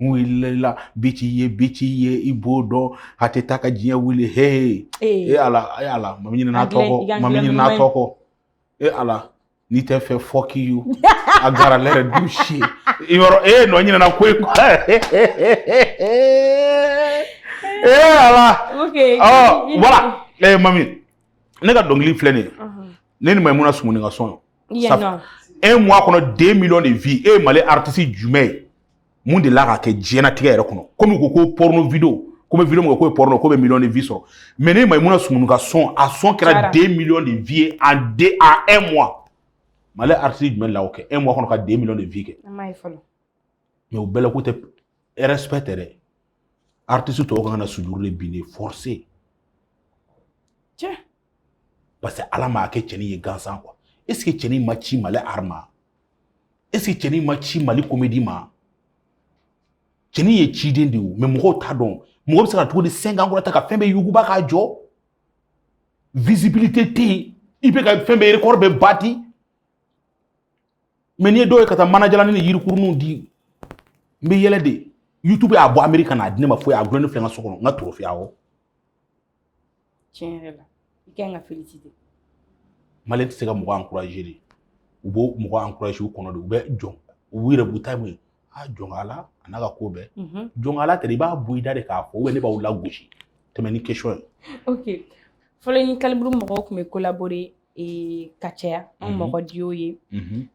mun wulila la bi ci ye bi ci ye i b'o dɔn a tɛ taa ka diɲɛ wuli hee e ala e ala mami ɲinɛna tɔ kɔ mami ɲinɛna tɔ kɔ e ala n'i tɛ n fɛ fuck you a gara lɛrɛ du si ye yɔrɔ e nɔ ɲinɛna ko ye e ala voilà ɛ mami ne ka dɔnkili filɛ nin ye ne ni mayimuna sumunu ka son un mois kɔnɔ deux millions de vues e ye mali artiste jumɛn ye min delila k'a kɛ diɲɛnatigɛ yɛrɛ kɔnɔ komi u ko ko porno vidéo k'u bɛ vidéo min kɛ k'o ye porno k'o bɛ millions de vues sɔrɔ mais ne mayimuna sumunu ka son a son kɛra deux millions de vues ye en de en un mois mali artiste jumɛn la o kɛ un mois kɔnɔ ka deux millions de vues kɛ mais o bɛɛ la ko tɛ respect tɛ dɛ artiste tɔw ka kan ka na sujuru de bin dɛ forcé tiɲɛ parce que ala m'a kɛ cɛnin ye gansan quoi est ce que cɛnin ma ci mali art ma est ce que cɛnin ma ci mali comédie ma cɛnin ye ciden de ye mais mɔgɔw t'a dɔn mɔgɔ bɛ se ka cogo di 5 ans kɔnɔ ta ka fɛn bɛɛ yuguba k'a jɔ visibilité tɛ yen i bɛ ka fɛn bɛɛ record bɛɛ bati mais n'i ye dɔw ye ka taa manajalani ni yirikuruninw di n bɛ yɛlɛ de youtube y'a bɔ amerika ka n'a di ne ma foyi a gulonnen filɛ n ka so kɔnɔ n ka trophée awɔ tiɲɛ yɛrɛ la i kan ka féliciter mali tɛ se ka mɔgɔ encourager de u b'o mɔgɔ encourager u kɔnɔ de u bɛ jɔn u yɛrɛ b'u ta mun ye a jɔnkala a n'a ka ko bɛɛ jɔnkala tɛ i b'a bɔ i da de k'a fɔ ou bien ne b'aw lagosi tɛmɛ ni question ye ok fɔlɔ ni kaliburu mɔgɔw tun bɛ collaborer ka caya an mɔgɔ duo ye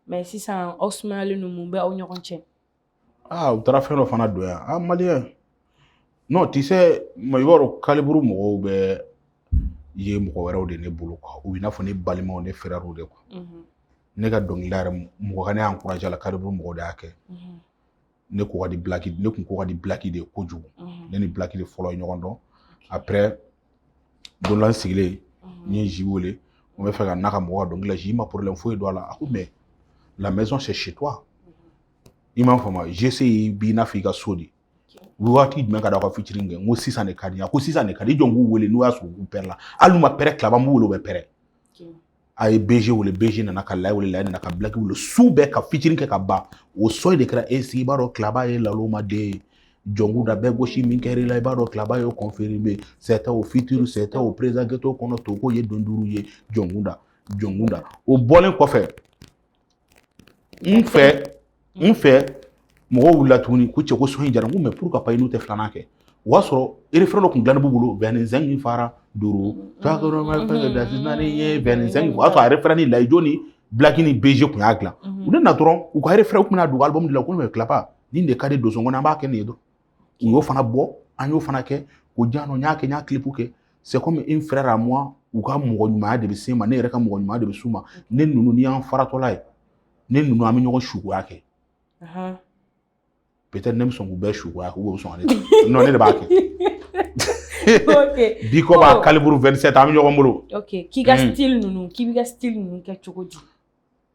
mais sisan aw sumayalen don mun bɛ aw ɲɔgɔn cɛ aa u taara fɛn dɔ fana don yan a maliyɛn non tu sais ma i b'a dɔn kaliburu mɔgɔw bɛɛ ye mɔgɔ wɛrɛw de ne bolo quoi u bɛ i n'a fɔ ne balimaw ne frèrew de quoi mhm. ne ka dɔnkilida yɛrɛ mɔgɔ ka ne encourager la kaliburu mɔgɔw de y'a kɛ mhm. ne ko ka di bilaki ne kun ko ka di bilaki de kojugu mhm. ne ni bilaki de fɔlɔ ye ɲɔgɔn dɔn après don la n sigilen n ye zi wele n bɛ fɛ ka n'a ka mɔgɔ ka dɔnkili la zi ma problème foyi don a la a ko mais la maison c'est chez toi i m'a faamu gc b'i n'a fɔ i ka so de waati jumɛn ka d'aw ka featuring kɛ n ko sisan de ka di a ko sisan de ka di jɔn k'u wele n'u y'a sɔrɔ u prêt la hali n'u ma prêt tilaba m'u wele u bɛ prêt a ye bg wele bg nana ka layi wele layi nana ka bilaki wele su bɛɛ ka featuring kɛ ka ban o sɔn de kɛra e sigi i b'a dɔn tilaba ye laloma den ye jɔnku da bɛɛ gosi min kɛra i la i b'a dɔn tilaba ye confirmé c'était au futur c'était au présent ghetto kɔnɔ to ko ye don duuru ye jɔnkun da jɔnkun da o bɔlen kɔfɛ n fɛ n fɛ mɔgɔw wulila tuguni ko cɛ ko sɔn in jara n ko mais pourquoi pas i n'u tɛ filanan kɛ o y'a sɔrɔ refrain dɔ tun dilannen b'u bolo bɛn ni zɛn min fara duuru naani ye bɛn ni zɛn o y'a sɔrɔ a refrain ni layijo ni bilaki ni bg tun y'a dilan u nana dɔrɔn u ka refrain tun bɛna don album de la ko mais tilaba nin de ka di don kɔnɔ an b'a kɛ nin ye dɔrɔn u y'o fana bɔ an y'o fana kɛ ko jan n y'a kɛ n y'a clip kɛ c'est comme un frère à moi u ka mɔgɔ ɲumanya de bɛ se ma ne yɛrɛ ka mɔgɔ ɲumanya de bɛ s'u ma ne ninnu ni y'an faratɔla ye ne ninnu an bɛ ɲɔgɔn suguya kɛ peut-être ne bɛ sɔn k'u bɛɛ suguya k'u bɛ sɔn ka ne ta non ne de b'a kɛ big up à kaliburu 27 an bɛ ɲɔgɔn bolo k'i ka style ninnu k'i b'i ka style ninnu kɛ cogo di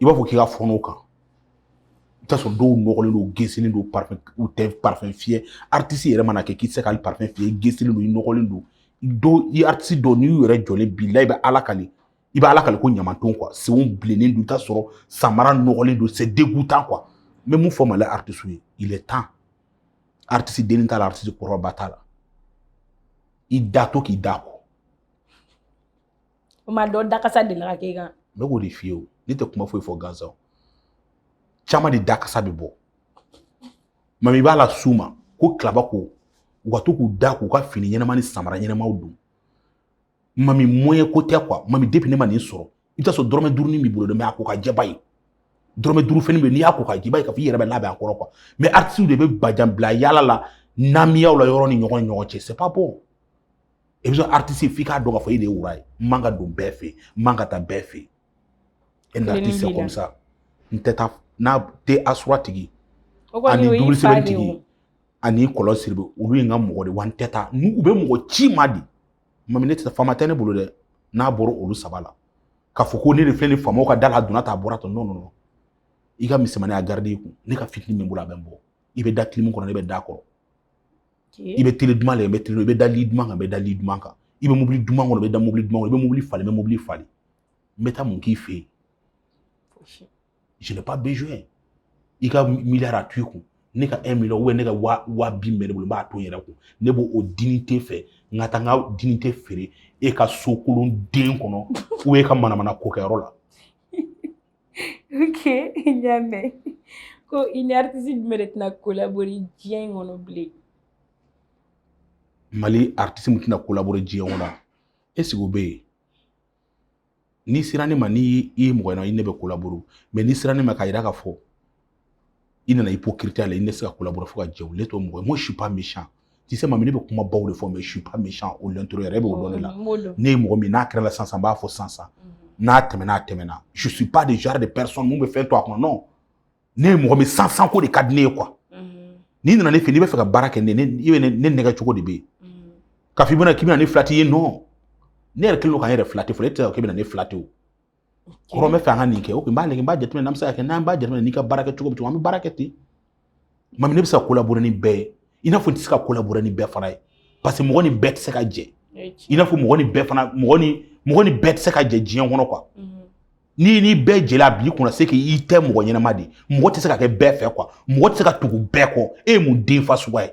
i b'a fɔ k'i ka fɔnɔ kan i t'a sɔrɔ dɔw nɔgɔlen don gesilen don parfum u tɛ parfum fiyɛ aritisi yɛrɛ mana kɛ k'i tɛ se ka parfum fiyɛ i gesilen don i nɔgɔlen don dɔw i aritisi dɔw n'i y'u yɛrɛ jɔlen bilahi i bɛ ala kali ko ɲamanton quoi senw bilennen don i t'a sɔrɔ samara nɔgɔlen don c'est dégoûtant quoi n bɛ mun fɔ mali aritisiw ye il est temps aritisi dennin t'a la aritisi kɔrɔba t'a la i da to k'i da ko o ma dɔ dakasa delila ka k'e kan ne k'o de f'i ye o ne tɛ kuma foyi fɔ gansan o caman de dakasa bɛ bɔ mami i b'a las'u ma ko kilaba ko u ka to k'u da k'u ka fini ɲɛnama ni samara ɲɛnamaw don mami moyen ko tɛ quoi mami depuis ne ma nin sɔrɔ i bɛ taa sɔrɔ dɔrɔmɛ duurunin b'i bolo dɛ mais a ko ka jɛ i b'a ye dɔrɔmɛ duuru fɛnnin bɛ n'i y'a ko ka jɛ i b'a ye k'a fɔ i yɛrɛ bɛ labɛn a kɔrɔ quoi mais aritisiw de bɛ bajan bila yaala la namiyaw la yɔrɔ ni ɲɔgɔn ni ɲɔgɔn cɛ c'est pas bon i bɛ sɔn aritisi f'i k'a dɔn k'a fɔ e de ye roi ye n man ka don bɛɛ fɛ yen n man ka taa bɛɛ fɛ yen un artiste c'est comme ça n tɛ taa n'a tɛ asura tigi ani double seven tigi ani kɔlɔn siribe olu ye n ka mɔgɔ de wa n tɛ taa n'u u bɛ mɔgɔ ci ma di mami ne tɛ taa faama tɛ ne bolo dɛ n'a bɔra olu saba la k'a fɔ ko ne de filɛ nin faamaw ka da la a donna tan a bɔra tan non non i ka misɛnmani a garidi i kun ne ka fitini min bolo a bɛ n bɔ i bɛ da clim kɔnɔ ne bɛ da kɔrɔ i bɛ télé duman la i bɛ télé i bɛ da lit duman kan i bɛ da lit duman kan i bɛ mobili duman kɔnɔ i bɛ da mobili duman kɔnɔ i bɛ mobili falen i bɛ mobili falen n bɛ taa mun k'i fɛ yen je n'ai pas besoin i ka miliyari a to i kun ne ka un million ou bien ne ka wa wa binaani bɛ ne bolo n b'a to n yɛrɛ kun ne b'o dignité fɛ n ka taa n ka dignité feere e ka so kolon den kɔnɔ ou bien e ka manamana kokɛyɔrɔ la ok n y'a mɛn ko i ni aritisi jumɛn de tɛna collaborer diɲɛ in kɔnɔ bilen mali aritisi min tɛna collaborer diɲɛ kɔnɔ est-ce que o bɛ yen n'i sera ne ma n'i ye mɔgɔ ye i ne bɛ collaborer mais n'i sera ne ma k'a jira k'a fɔ i nana hypocrite la i ne tɛ se ka collaborer fo ka diɲɛ wuli n t'o mɔgɔ ye moi je suis pas méchant tu sais mami ne bɛ kuma baw de fɔ mais je suis pas méchant au l'intérieur yɛrɛ bɛ o dɔn ne la ne ye mɔgɔ min n'a kɛra la sansan n b'a fɔ sansan n'a tɛmɛna a tɛmɛna je suis pas de genre de personne min bɛ fɛn to a kɔnɔ non ne ye mɔgɔ min sansan ko de ka di ne ye quoi n'i nana ne fɛ n'i bɛ fɛ ka baara kɛ ne i bɛ ne nɛgɛn cogo de bɛ yen k'a fɔ i bɛna k'i bɛna ne filati ye non ne yɛrɛ kɛlen don ka n yɛrɛ filati fɔlɔ e tɛ se ka k'i bɛna ne filati o kɔrɔ n bɛ fɛ an ka nin kɛ ok n b'a lajɛ n b'a jateminɛ n'an bɛ se ka kɛ n'an b'a jateminɛ n'i ka baara kɛ cogo bɛ cogo an bɛ baara kɛ ten mami ne bɛ se ka collaborer ni bɛɛ ye i n'a fɔ n tɛ se ka collaborer ni bɛɛ fana ye parce que mɔgɔ ni bɛɛ tɛ se ka jɛ i n'a fɔ mɔgɔ ni bɛɛ fana mɔgɔ ni mɔgɔ ni bɛɛ tɛ se ka jɛ diɲɛ kɔnɔ quoi n'i ni bɛɛ jɛla a b'i kunna c'est qu'i tɛ mɔgɔ ɲɛnama de mɔgɔ tɛ se ka kɛ bɛɛ fɛ quoi mɔgɔ tɛ se ka tugu bɛɛ kɔ e ye mun danfɛn suguya ye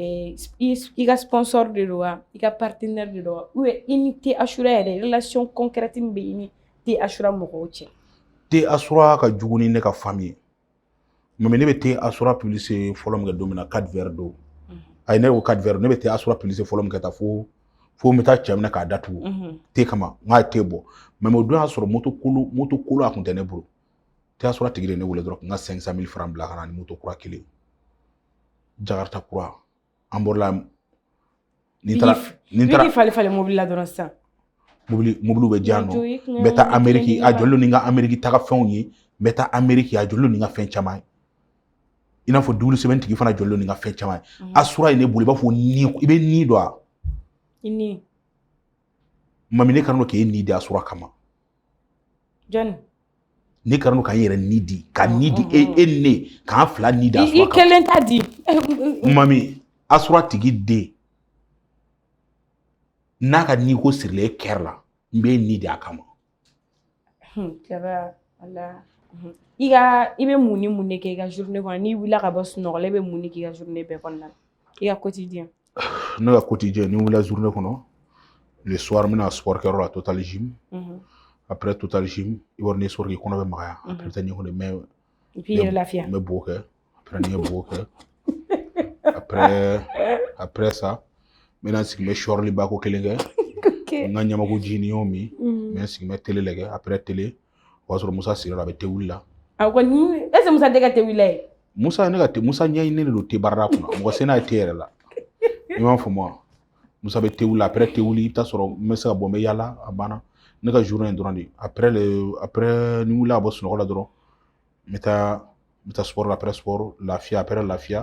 Eh, i ka sponsor de don wa i ka partenaire de don wa ou i ni te asura yɛrɛ relation concrète bɛ i ni te asura mɔgɔw cɛ te asura ka jugu ni ne ka famille ye mais ne bɛ te asura publicité fɔlɔ min kɛ don min na kadi yɛrɛ don a ye ne ko kadi ne bɛ te asura publicité fɔlɔ min kɛ taa fo n bɛ taa cɛ minɛ k'a datugu te kama n'a ye te bɔ mais o don y'a sɔrɔ moto moto kolo a tun tɛ ne bolo te asura tigi ye ne weele dɔrɔn n ka cinq cent mille francs bila ka na ni moto kura kelen jakarta kura an bɔrɔla ni taara ni taara falen falen mobili la dɔrɔn sisan mobili mobiliw bɛ diyan nɔ n bɛ taa ameriki a jɔlen ni n ka ameriki taga fɛnw ye n bɛ taa ameriki a jɔlen ni n ka fɛn caman ye i n'a fɔ Double Seven tigi fana jɔlen ni n ka fɛn caman ye asura ye ne bolo i b'a fɔ ni i bɛ ni dɔn wa ni mami ne kanu k'e ni di asura kama John ne kanu ka n yɛrɛ ni di ka ni di e e ne k'an fila ni di asura kama i kelen ta di mami asura tigi den n'a ka ni ko sirilen e kɛrɛ la n bɛ e ni di a kama i ka i bɛ mun ni mun de kɛ i ka journée kɔnɔ n'i wulila ka bɔ sunɔgɔ la i bɛ mun de k'i ka journée bɛɛ kɔnɔna na i ka quotidien ne ka quotidien ni n wulila journée kɔnɔ le soir n bɛna sport kɛyɔrɔ la total gym après total gym i b'a dɔn ni sport kɛ i kɔnɔ bɛ magaya après taa ɲɛgɛn fɛ n bɛ bo kɛ après ni n ye bo kɛ après après ça n bɛna sigi n bɛ sɔrili ba ko kelen kɛ n ka ɲamaku ji ni n y'o min n bɛ sigi n bɛ tele lajɛ après tele o y'a sɔrɔ musa sigira a bɛ te wuli la a ko ni est ce que musa tɛ ka te wuli la ye musa ne ka te musa ɲɛɲinini de don te baarada kunna mɔgɔ se n'a ye te yɛrɛ la i m'a faamu wa musa bɛ te wuli après te wuli i bɛ taa sɔrɔ n bɛ se ka bɔ n bɛ yaala a banna ne ka journée in dɔrɔn de après le après ni n wulila ka bɔ sunɔgɔ la dɔrɔn n bɛ taa n bɛ taa sport la après sport lafiya après lafiya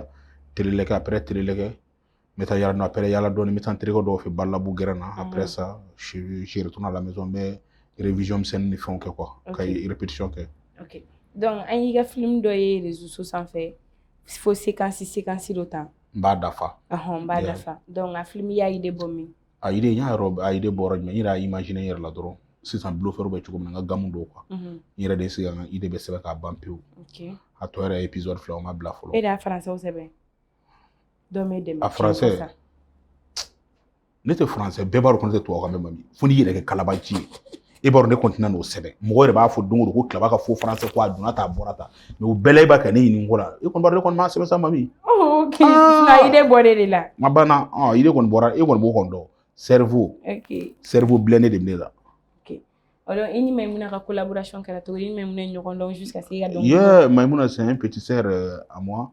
tele lajɛ kɛ après tele lajɛ kɛ n bɛ taa yala après yala dɔɔni n bɛ taa n terikɛ dɔw fɛ balabu gɛrɛn na après ça je retourne à la maison n bɛ révision misɛnnin ni fɛnw kɛ quoi ka répétition kɛ donc an y'i ka film dɔ ye réseaux sociaux sanfɛ fo séquence séquence dɔ ta n b'a dafa n b'a dafa donc a film y'a idée bɔ min a idée n y'a yɔrɔ a idée bɔra jumɛn n yɛrɛ y'a imaginer n yɛrɛ la dɔrɔn sisan bluffeurw bɛ cogo min na n ka gamu don quoi n yɛrɛ de sigi ka idée bɛɛ sɛbɛn k'a ban pewu a tɔ yɛrɛ ye épisode fila o ma bila fɔlɔ e de y'a français sɛbɛn dɔ m'e dɛmɛ a français ne tɛ français bɛɛ b'a dɔn ko ne tɛ tubabu kan mɛn mami fo n'i yɛrɛ kɛ kalabanci ye e b'a dɔn ne kɔntina n'o sɛbɛn mɔgɔ yɛrɛ b'a fɔ don o don ko tilaba ka faux français ko a donna ta a bɔra ta mais o bɛɛ la e b'a kɛ ne ɲini ko la e kɔni ne kɔni m'a sɛbɛn sa mami idée bɔra de la ma banna idée kɔni bɔra e kɔni b'o kɔni dɔn cerveau cerveau bilennen de bɛ ne la Alors i ni Mayimuna ka collaboration kɛra cogo di i ni Mayimuna ye ɲɔgɔn dɔn jusqu'à ce que i ka dɔnkili yee Mayimuna c'est un petit sœur à moi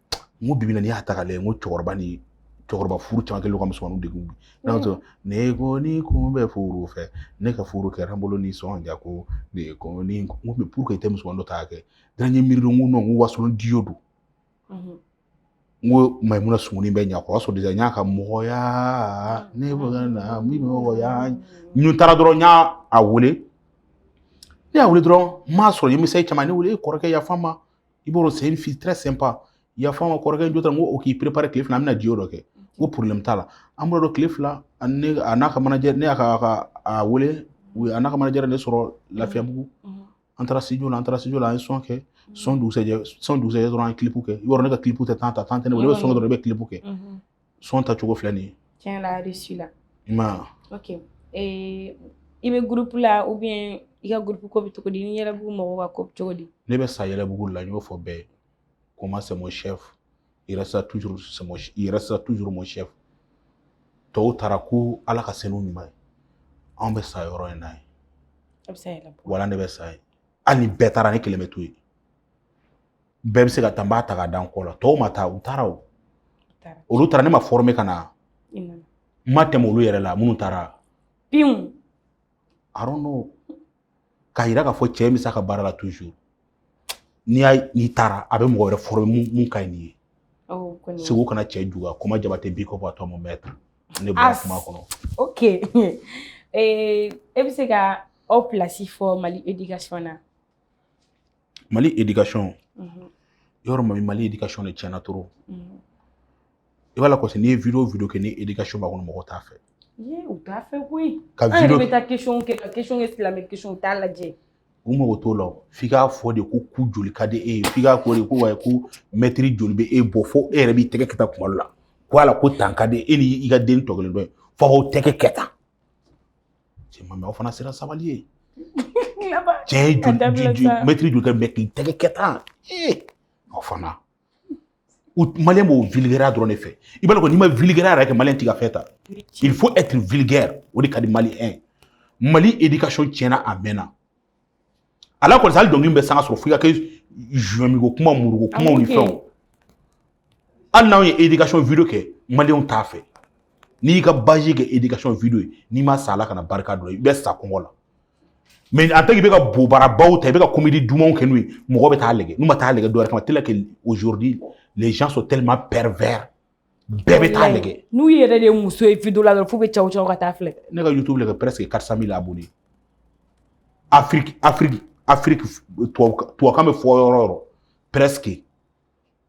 n ko bibi na n'i y'a ta k'a lajɛ n ko cɛkɔrɔba ni cɛkɔrɔba furu caman kɛlen ka musomaninw degun bi n'a sɔrɔ ne kɔni tun bɛ furu fɛ ne ka furu kɛra n bolo nisɔndiya ko ne kɔni n ko mais pourquoi i tɛ musomanin dɔ ta kɛ dan ye miiri don n ko non ko wasolon diyo don n ko mayimuna sumunu bɛ ɲa o y'a sɔrɔ n y'a ka mɔgɔya ne bɛ na min mɔgɔya n taara dɔrɔn n y'a a wele ne y'a wele dɔrɔn n m'a sɔrɔ i misali caman ne wele e kɔrɔkɛ yafa n ma i b'a dɔn c'est une fille très sympa i y'a fɔ an ka kɔrɔkɛ jɔ n ko o k'i préparer tile fila an bɛna diyo dɔ kɛ n ko problème t'a la an bɔra dɔ tile fila ne a n'a ka manajɛ ne y'a ka a wele u ye a n'a ka manajɛ ne sɔrɔ lafiyabugu an taara studio la an taara studio la an ye son kɛ son dugusɛjɛ son dugusɛjɛ dɔrɔn an ye clip kɛ yɔrɔ ne ka clip tɛ temps ta temps tɛ ne bolo ne bɛ son kɛ dɔrɔn ne bɛ clip kɛ son tacogo filɛ nin ye tiɲɛ la réussi la i ma ok ee i bɛ gurupu la ou bien i ka gurupu ko bɛ cogo di ni yɛlɛbugu mɔgɔw ka ko bɛ cogo di ne bɛ sa yɛlɛbugu la n y'o fɔ bɛɛ ye koman c'est mon chef il restera toujours c'est mon il restera toujours mon chef tɔw taara ko ala ka se n'u ɲuman ye anw bɛ sa yɔrɔ in na yen a bɛ sa yɛlɛbugu wala ne bɛ sa yen hali ni bɛɛ taara ne kelen bɛ to yen bɛɛ bɛ se ka taa n b'a ta ka da n kɔ la tɔw ma taa u taara o olu taara ne ma fɔrɔme ka na n ma tɛmɛ olu yɛrɛ la minnu taara pinw I don't know k'a yira k'a fɔ cɛ bɛ se a ka baara la toujours n'i y'a n'i taara a bɛ mɔgɔ wɛrɛ fɔrɔme mun mun ka ɲi n'i ye oh, segu kana cɛ juguya koman jabatɛ big up à toi mon maître ne bɔra kuma kɔnɔ ok e bɛ se ka aw pilasi fɔ mali edikasɔn na mali edikasɔn mhm. vraiment mali edikasɔn de tiɲɛna trop mhm. i b'a lakɔsi n'i ye video video kɛ ni edikasɔn b'a kɔnɔ mɔgɔ t'a fɛ u t'a fɛ koyi ka video an yɛrɛ bɛ taa question kɛ ka question kɛ silamɛ question u t'a lajɛ u mago t'o la f'i k'a fɔ de ko ku joli ka di e ye f'i k'a fɔ de ko wayi ko mɛtiri joli bɛ e bɔ fo e yɛrɛ b'i tɛgɛ kɛ tan kuma dɔ la ko ala ko tan ka di e ni i ka den tɔ kelen dɔ ye fo k'aw tɛgɛ kɛ tan cɛ ma aw fana sera sabali ye cɛ ye mɛtiri joli bɛ k'i tɛgɛ kɛ tan aw fana maliyɛn b'o vulgaire dɔrɔn de fɛ i b'a dɔn n'i ma vulgaire yɛrɛ kɛ maliyɛn t'i ka fɛn ta il faut être vulgaire o de ka di maliyɛn mali éducation tiɲɛna a mɛnna a lakɔlɔsi hali dɔnkili bɛ sanga sɔrɔ f'i ka kɛ zumiko kuma muruko kumaw ni fɛnw hali n'anw ye éducation video kɛ maliyɛnw t'a fɛ n'i y'i ka bazi kɛ éducation video ye n'i ma sa ala kana barika dɔ i bɛ sa kɔngɔ la mais en tant qu'i bɛ ka bobarabaw ta i bɛ ka komedi dumanw kɛ n'u ye mɔgɔ bɛ taa lajɛ n'u ma taa lajɛ dɔwɛrɛ kama tellement que aujourd'hui les gens sont tellement pervers bɛɛ bɛ taa lajɛ n'u yɛrɛ de ye muso ye video la dɔrɔn f'u bɛ cɛw cɛw ka taa filɛ ne ka youtube lajɛ presque 400 000 abonnés afiriki afiriki afiriki tubabukan bɛ fɔ yɔrɔ o yɔrɔ presque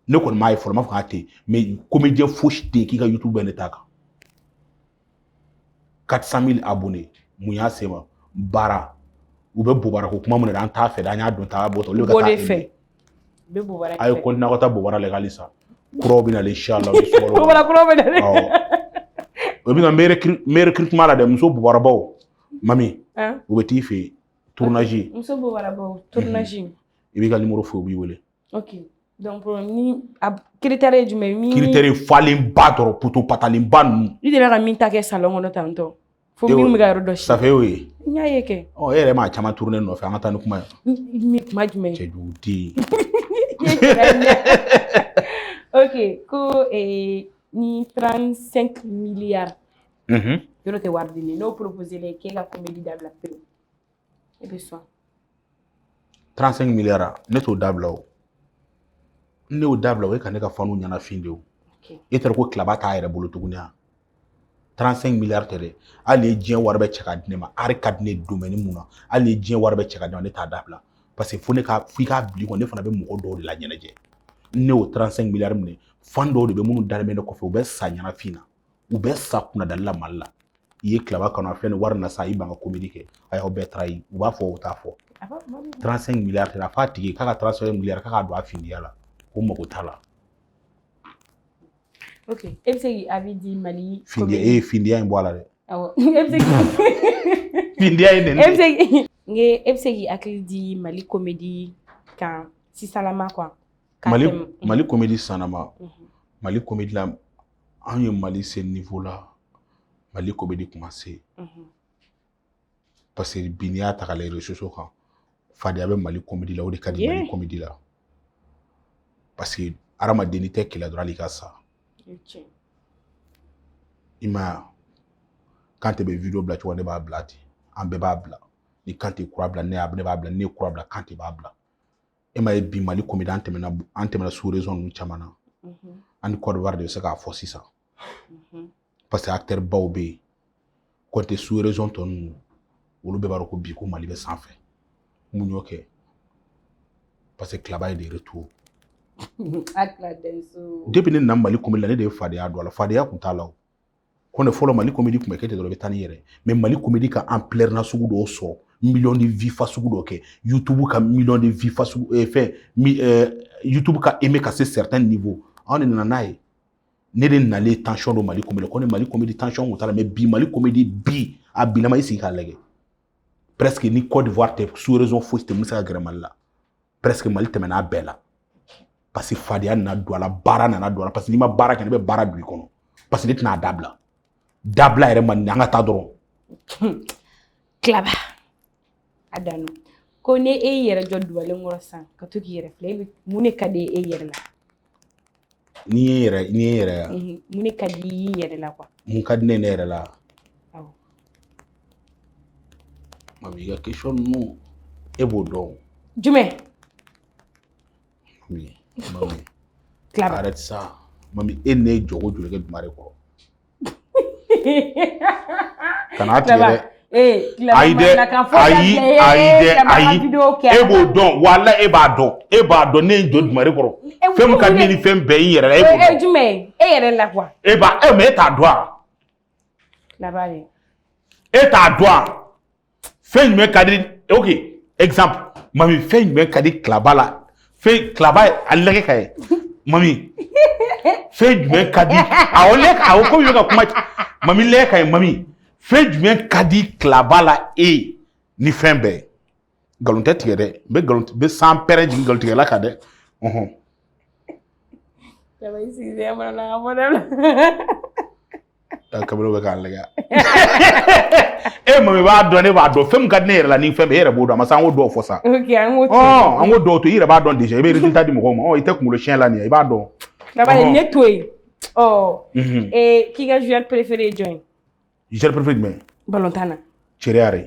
ne kɔni m'a ye fɔlɔ n m'a fɔ k'a tɛ yen mais comédien fosi tɛ yen k'i ka youtube bɛ ne ta kan 400 000 abonnés mun y'a se ma baara u bɛ bobara ko kuma min na an t'a fɛ dɛ an y'a dɔn ta bɔ olu ka taa fɛ bɛ bobara a ye continuer ka taa bobara la halisa kuraw bɛ na inchallah bobara kuraw bɛ na o bɛ na meilleur recrutement la dɛ muso bobarabaw mami u bɛ t'i fɛ yen tournage muso bobarabaw tournage i b'i ka nimoro fɔ u b'i wele ok donc problème ni a critère ye jumɛn ye min critère ye falenba dɔrɔn poto patalenba ninnu i delila ka min ta kɛ salon kɔnɔ tantɔ fo min bɛ ka yɔrɔ dɔ si ça fait y'o ye n y'a ye kɛ ɔ e yɛrɛ m'a caman tourner nɔfɛ an ka taa ni kuma ye ni kuma jumɛn cɛ jugu den ok ko eh, ni 35 milliards yɔrɔ tɛ wari di ne n'o proposé la k'e ka comédie dabila pewu i bɛ sɔn 35 milliards ne t'o dabila o ne y'o dabila o ye ka ne ka fanw ɲɛnafin de o e t'a dɔn ko claba t'a yɛrɛ bolo tuguni wa 35 milliards tɛ dɛ hali ni diɲɛ wari bɛ cɛ ka di ne ma ari ka di ne domɛni mun na hali ni diɲɛ wari bɛ cɛ ka di ne ma ne t'a dabila parce que fo ne ka f'i ka oublier ko ne fana bɛ mɔgɔ dɔw de la ɲɛnajɛ ne y'o 35 milliards minɛ fan dɔw de bɛ minnu dalen bɛ ne kɔfɛ u bɛ sa ɲɛnafin na u bɛ sa kunnadali la mali la i ye claba kanu a filɛ ni wari na sa i ban ka komedi kɛ a y'aw bɛɛ trahi u b'a fɔ o t'a fɔ 35 miliyari tɛ a f'a tigi k'a ka 35 miliyari k'a ka don a findiya la ko mago t'a la ok e bɛ se k'i avis di mali findiya e ye findiya in bɔ a la dɛ awɔ e bɛ se k'i findiya in nɛni e bɛ se k'i n ye e bɛ se k'i hakili di mali komedi kan sisanlama quoi mali mali komedi sisanlama mali komedi la anw ye mali se niveau la mali komedi commencé parce que bi n'i y'a ta k'a lajɛ réseaux sociaux kan fadenya bɛ mali komedi la o de ka di mali komedi la parce que hadamaden n'i tɛ kɛlɛ dɔrɔn hali i ka sa i m'a ye kante bɛ video bila cogo ne b'a bila ten an bɛɛ b'a bila ni kante kura bila ne y'a ne b'a bila ne kura bila kante b'a bila e m'a ye bi mali komedi an tɛmɛna an tɛmɛna sous région ninnu caman na mhm. an ni côte d'ivoire de bɛ se k'a fɔ sisan mhm. parce que acteur baw bɛ yen kɔnte sous région tɔ ninnu olu bɛɛ b'a dɔn ko bi ko mali bɛ sanfɛ mun y'o kɛ parce que claba ye de retour depuis ne na mali komedi la ne de ye fadenya don a la fadenya tun t'a la o kɔni fɔlɔ mali komedi tun bɛ kɛ ten dɔrɔn i bɛ taa n'i yɛrɛ mais mali komedi ka ampleur nasugu dɔw sɔrɔ miliyɔn de vues fasugu dɔ kɛ youtube ka miliyɔn de vues fasugu eh, fɛn mi, eh, youtube ka aimé ka se certain niveau anw de nana n'a ye ne de nalen tension don mali komedi kɔni mali komedi tension tun t'a la mais bi mali komedi bi a bilama i sigi k'a lajɛ presque ni Côte d'Ivoire tɛ sous-région fosi tɛ min bɛ se ka gɛrɛ mali la presque mali tɛmɛna a bɛɛ la parce que fadenya nana don a la baara nana don a la parce que n'i ma baara kɛ ne bɛ baara don i kɔnɔ parce que ne tɛna a dabila dabila yɛrɛ man di an ka taa dɔrɔn Claba a dano ko ne e y'i yɛrɛ jɔ duwalen kɔrɔ sisan ka to k'i yɛrɛ filɛ e bɛ mun de ka di e yɛrɛ la N'i ye yɛrɛ n'i ye yɛrɛ mun ne ka di i yɛrɛ la mun ka di ne ne yɛrɛ la mami i ka question ninnu e b'o dɔn jumɛn Claba arrête ça mami e ne ye jɔko joli kɛ dugalen kɔrɔ kana tigɛ dɛ ayi dɛ ayi ayi dɛ ayi e b'o dɔn wala e b'a dɔn e b'a dɔn ne ye jɔ dugalen kɔrɔ fɛn min ka di ni fɛn bɛɛ y'i yɛrɛ la e b'o dɔn jumɛn e yɛrɛ la quoi e b'a e mais e t'a dɔn a e t'a dɔn a fɛn jumɛn ka di ok exemple mami fɛn jumɛn ka di Claba la fɛn Claba a lɛgɛ ka ye mami fɛn jumɛn ka di awɔ lɛ ka awɔ komi i bɛ ka kuma mami lɛgɛ ka ye mami fɛn jumɛn ka di Claba la e ni fɛn bɛɛ nkalon tɛ tigɛ dɛ n bɛ nkalon n bɛ sanpɛrɛn jigin nkalon tigɛla kan dɛ ɔhɔn. Claba i sigilen mana na a mɔdɛli. kaburu bɛ k'a lajɛ e mami b'a dɔn ne b'a dɔn fɛn min ka di ne yɛrɛ la ni fɛn bɛɛ e yɛrɛ b'o dɔn a ma se an k'o dɔw fɔ sa an k'o dɔw to i yɛrɛ b'a dɔn déjà i bɛ résultat di mɔgɔw ma i tɛ kunkolo siɲɛ la nin ye i b'a dɔn Claba ne to yen ɔ k'i ka joueur préféré ye jɔn ye joueur préféré jumɛn balontan na Thierry Henry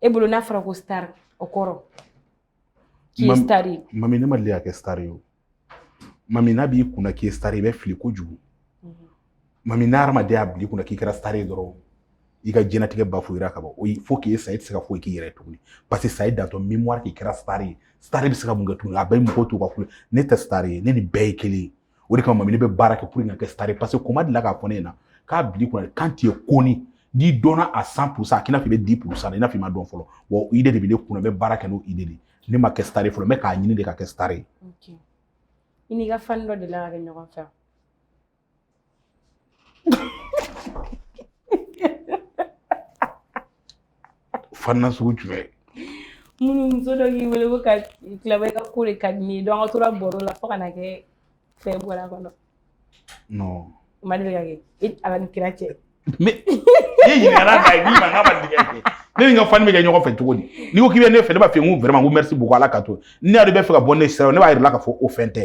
e bolo n'a fɔra ko star o kɔrɔ k'i ye star ye mami ne ma deli ka kɛ star ye o mami n'a b'i kunna k'i ye star ye i bɛ fili kojugu mhm. mami n'a hadamaden y'a bil'i kunna k'i kɛra star ye dɔrɔn i ka jɛnatigɛ bafouéra ka ban il faut k'i ye sa i tɛ se ka foyi k'i yɛrɛ tuguni parce que ça y est dans ton mémoire k'i kɛra star ye star bɛ se ka mun kɛ tuguni a bɛ mɔgɔw t'u ka kule ne tɛ star ye ne ni bɛɛ ye kelen ye o de kama mami ne bɛ baara kɛ pour que ka kɛ star ye parce que Koman delila k'a fɔ ne ɲɛna k'a bil'i kunna quand tu es connu n'i dɔnna à cent pour cent a k'i n'a fɔ i bɛ dix pour cent i n'a fɔ i ma dɔn fɔlɔ wa idée de bɛ ne kunna n bɛ baara kɛ n'o idée de ne ma kɛ star ye fɔlɔ n bɛ k'a ɲini de ka kɛ star ye i n'i ka fan dɔ delila ka kɛ ɲɔgɔn fɛ Fana sugu jumɛn ye minnu muso dɔ k'i wele ko ka Klaba i ka ko de ka di ne ye donc a tora baro la fo ka na kɛ fɛn bɔra kɔnɔ non ma deli ka kɛ e ala ni kira cɛ ne ɲininkala ka ye min ma n k'a ma deli ka kɛ ne ni n ka fani bɛ kɛ ɲɔgɔn fɛ cogo di n'i ko k'i bɛ ne fɛ ne b'a fɔ n ko vraiment n ko merci beaucoup ala ka to ne yɛrɛ b'i fɛ ka bɔ ne sira ne b'a yira i la k'a fɔ o fɛn tɛ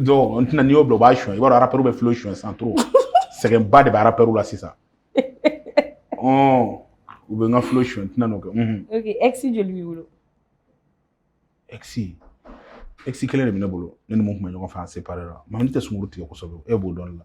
donc n tɛna n'i y'o bila o b'a suɲɛ i b'a dɔn rappeurw bɛ flow suɲɛ san trop sɛgɛnba de bɛ rappeurw la sisan u bɛ n ka flow suɲɛ n tɛna n'o kɛ ok ex joli b'i bolo ex ex kelen de bɛ ne bolo ne ni min tun bɛ ɲɔgɔn fɛ an séparé la mais ne tɛ sunkuru tigɛ kosɛbɛ e b'o dɔn ne la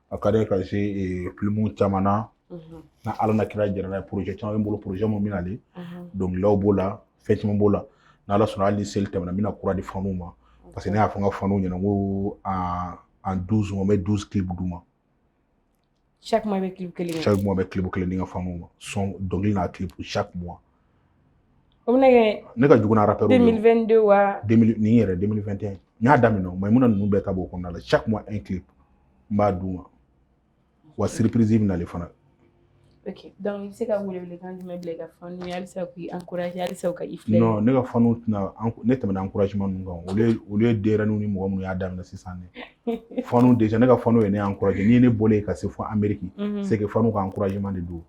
a ka di ka se filimu caman na n'ala n'a kira jɛra n'a ye projet caman bɛ n bolo projet minnu bɛ nalen dɔnkiliw b'o la fɛn caman b'o la n'ala sɔnna hali ni seli tɛmɛna n bɛna kura di fanuw ma parce que ne y'a fɔ n ka fanuw ɲɛna n ko en douze mois n bɛ douze clips d'u ma chaque mois n bɛ clip kelen chaque mois n bɛ clip kelen di n ka fanuw ma son dɔnkili n'a clip chaque mois O bɛna kɛ ne ka jugu arata deux mille vingt-deux wa nin yɛrɛ deux mille vingt et un n y'a daminɛ o ma mun ninnu bɛɛ ta b'o kɔnɔna la chaque mois un clip n b'a d'u ma wa surprise bɛ nali fana donc i bɛ se ka wele welekan jumɛn bila ka fan alisa k' an alisa ka i ne ka fan tɛna ne tɛmɛna encouragement ninnu kan olu ye den ni mɔgɔ minnu y'a daminɛ sisan de fa de ne ka fan ye ne encourager ni ne bɔlen ka se fo Amérique c'est fan ka encouragement de don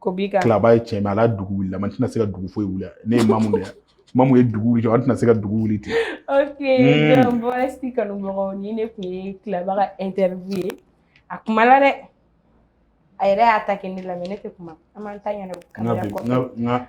ko bi ka Klaba ye cɛ ma ala dugu wulila mais an tɛna se ka dugu foyi wuli ne ye mamu de mamu ye dugu wuli an tɛna se ka dugu wuli ten ok hmm. bɔrɛsi kanubagaw ni ne kun ye Klaba ka interview ye a kuma la dɛ a yɛrɛ y'a ta kɛ ne la mais ne tɛ kuma an b'an ta ɲɛna kamera kɔfɛ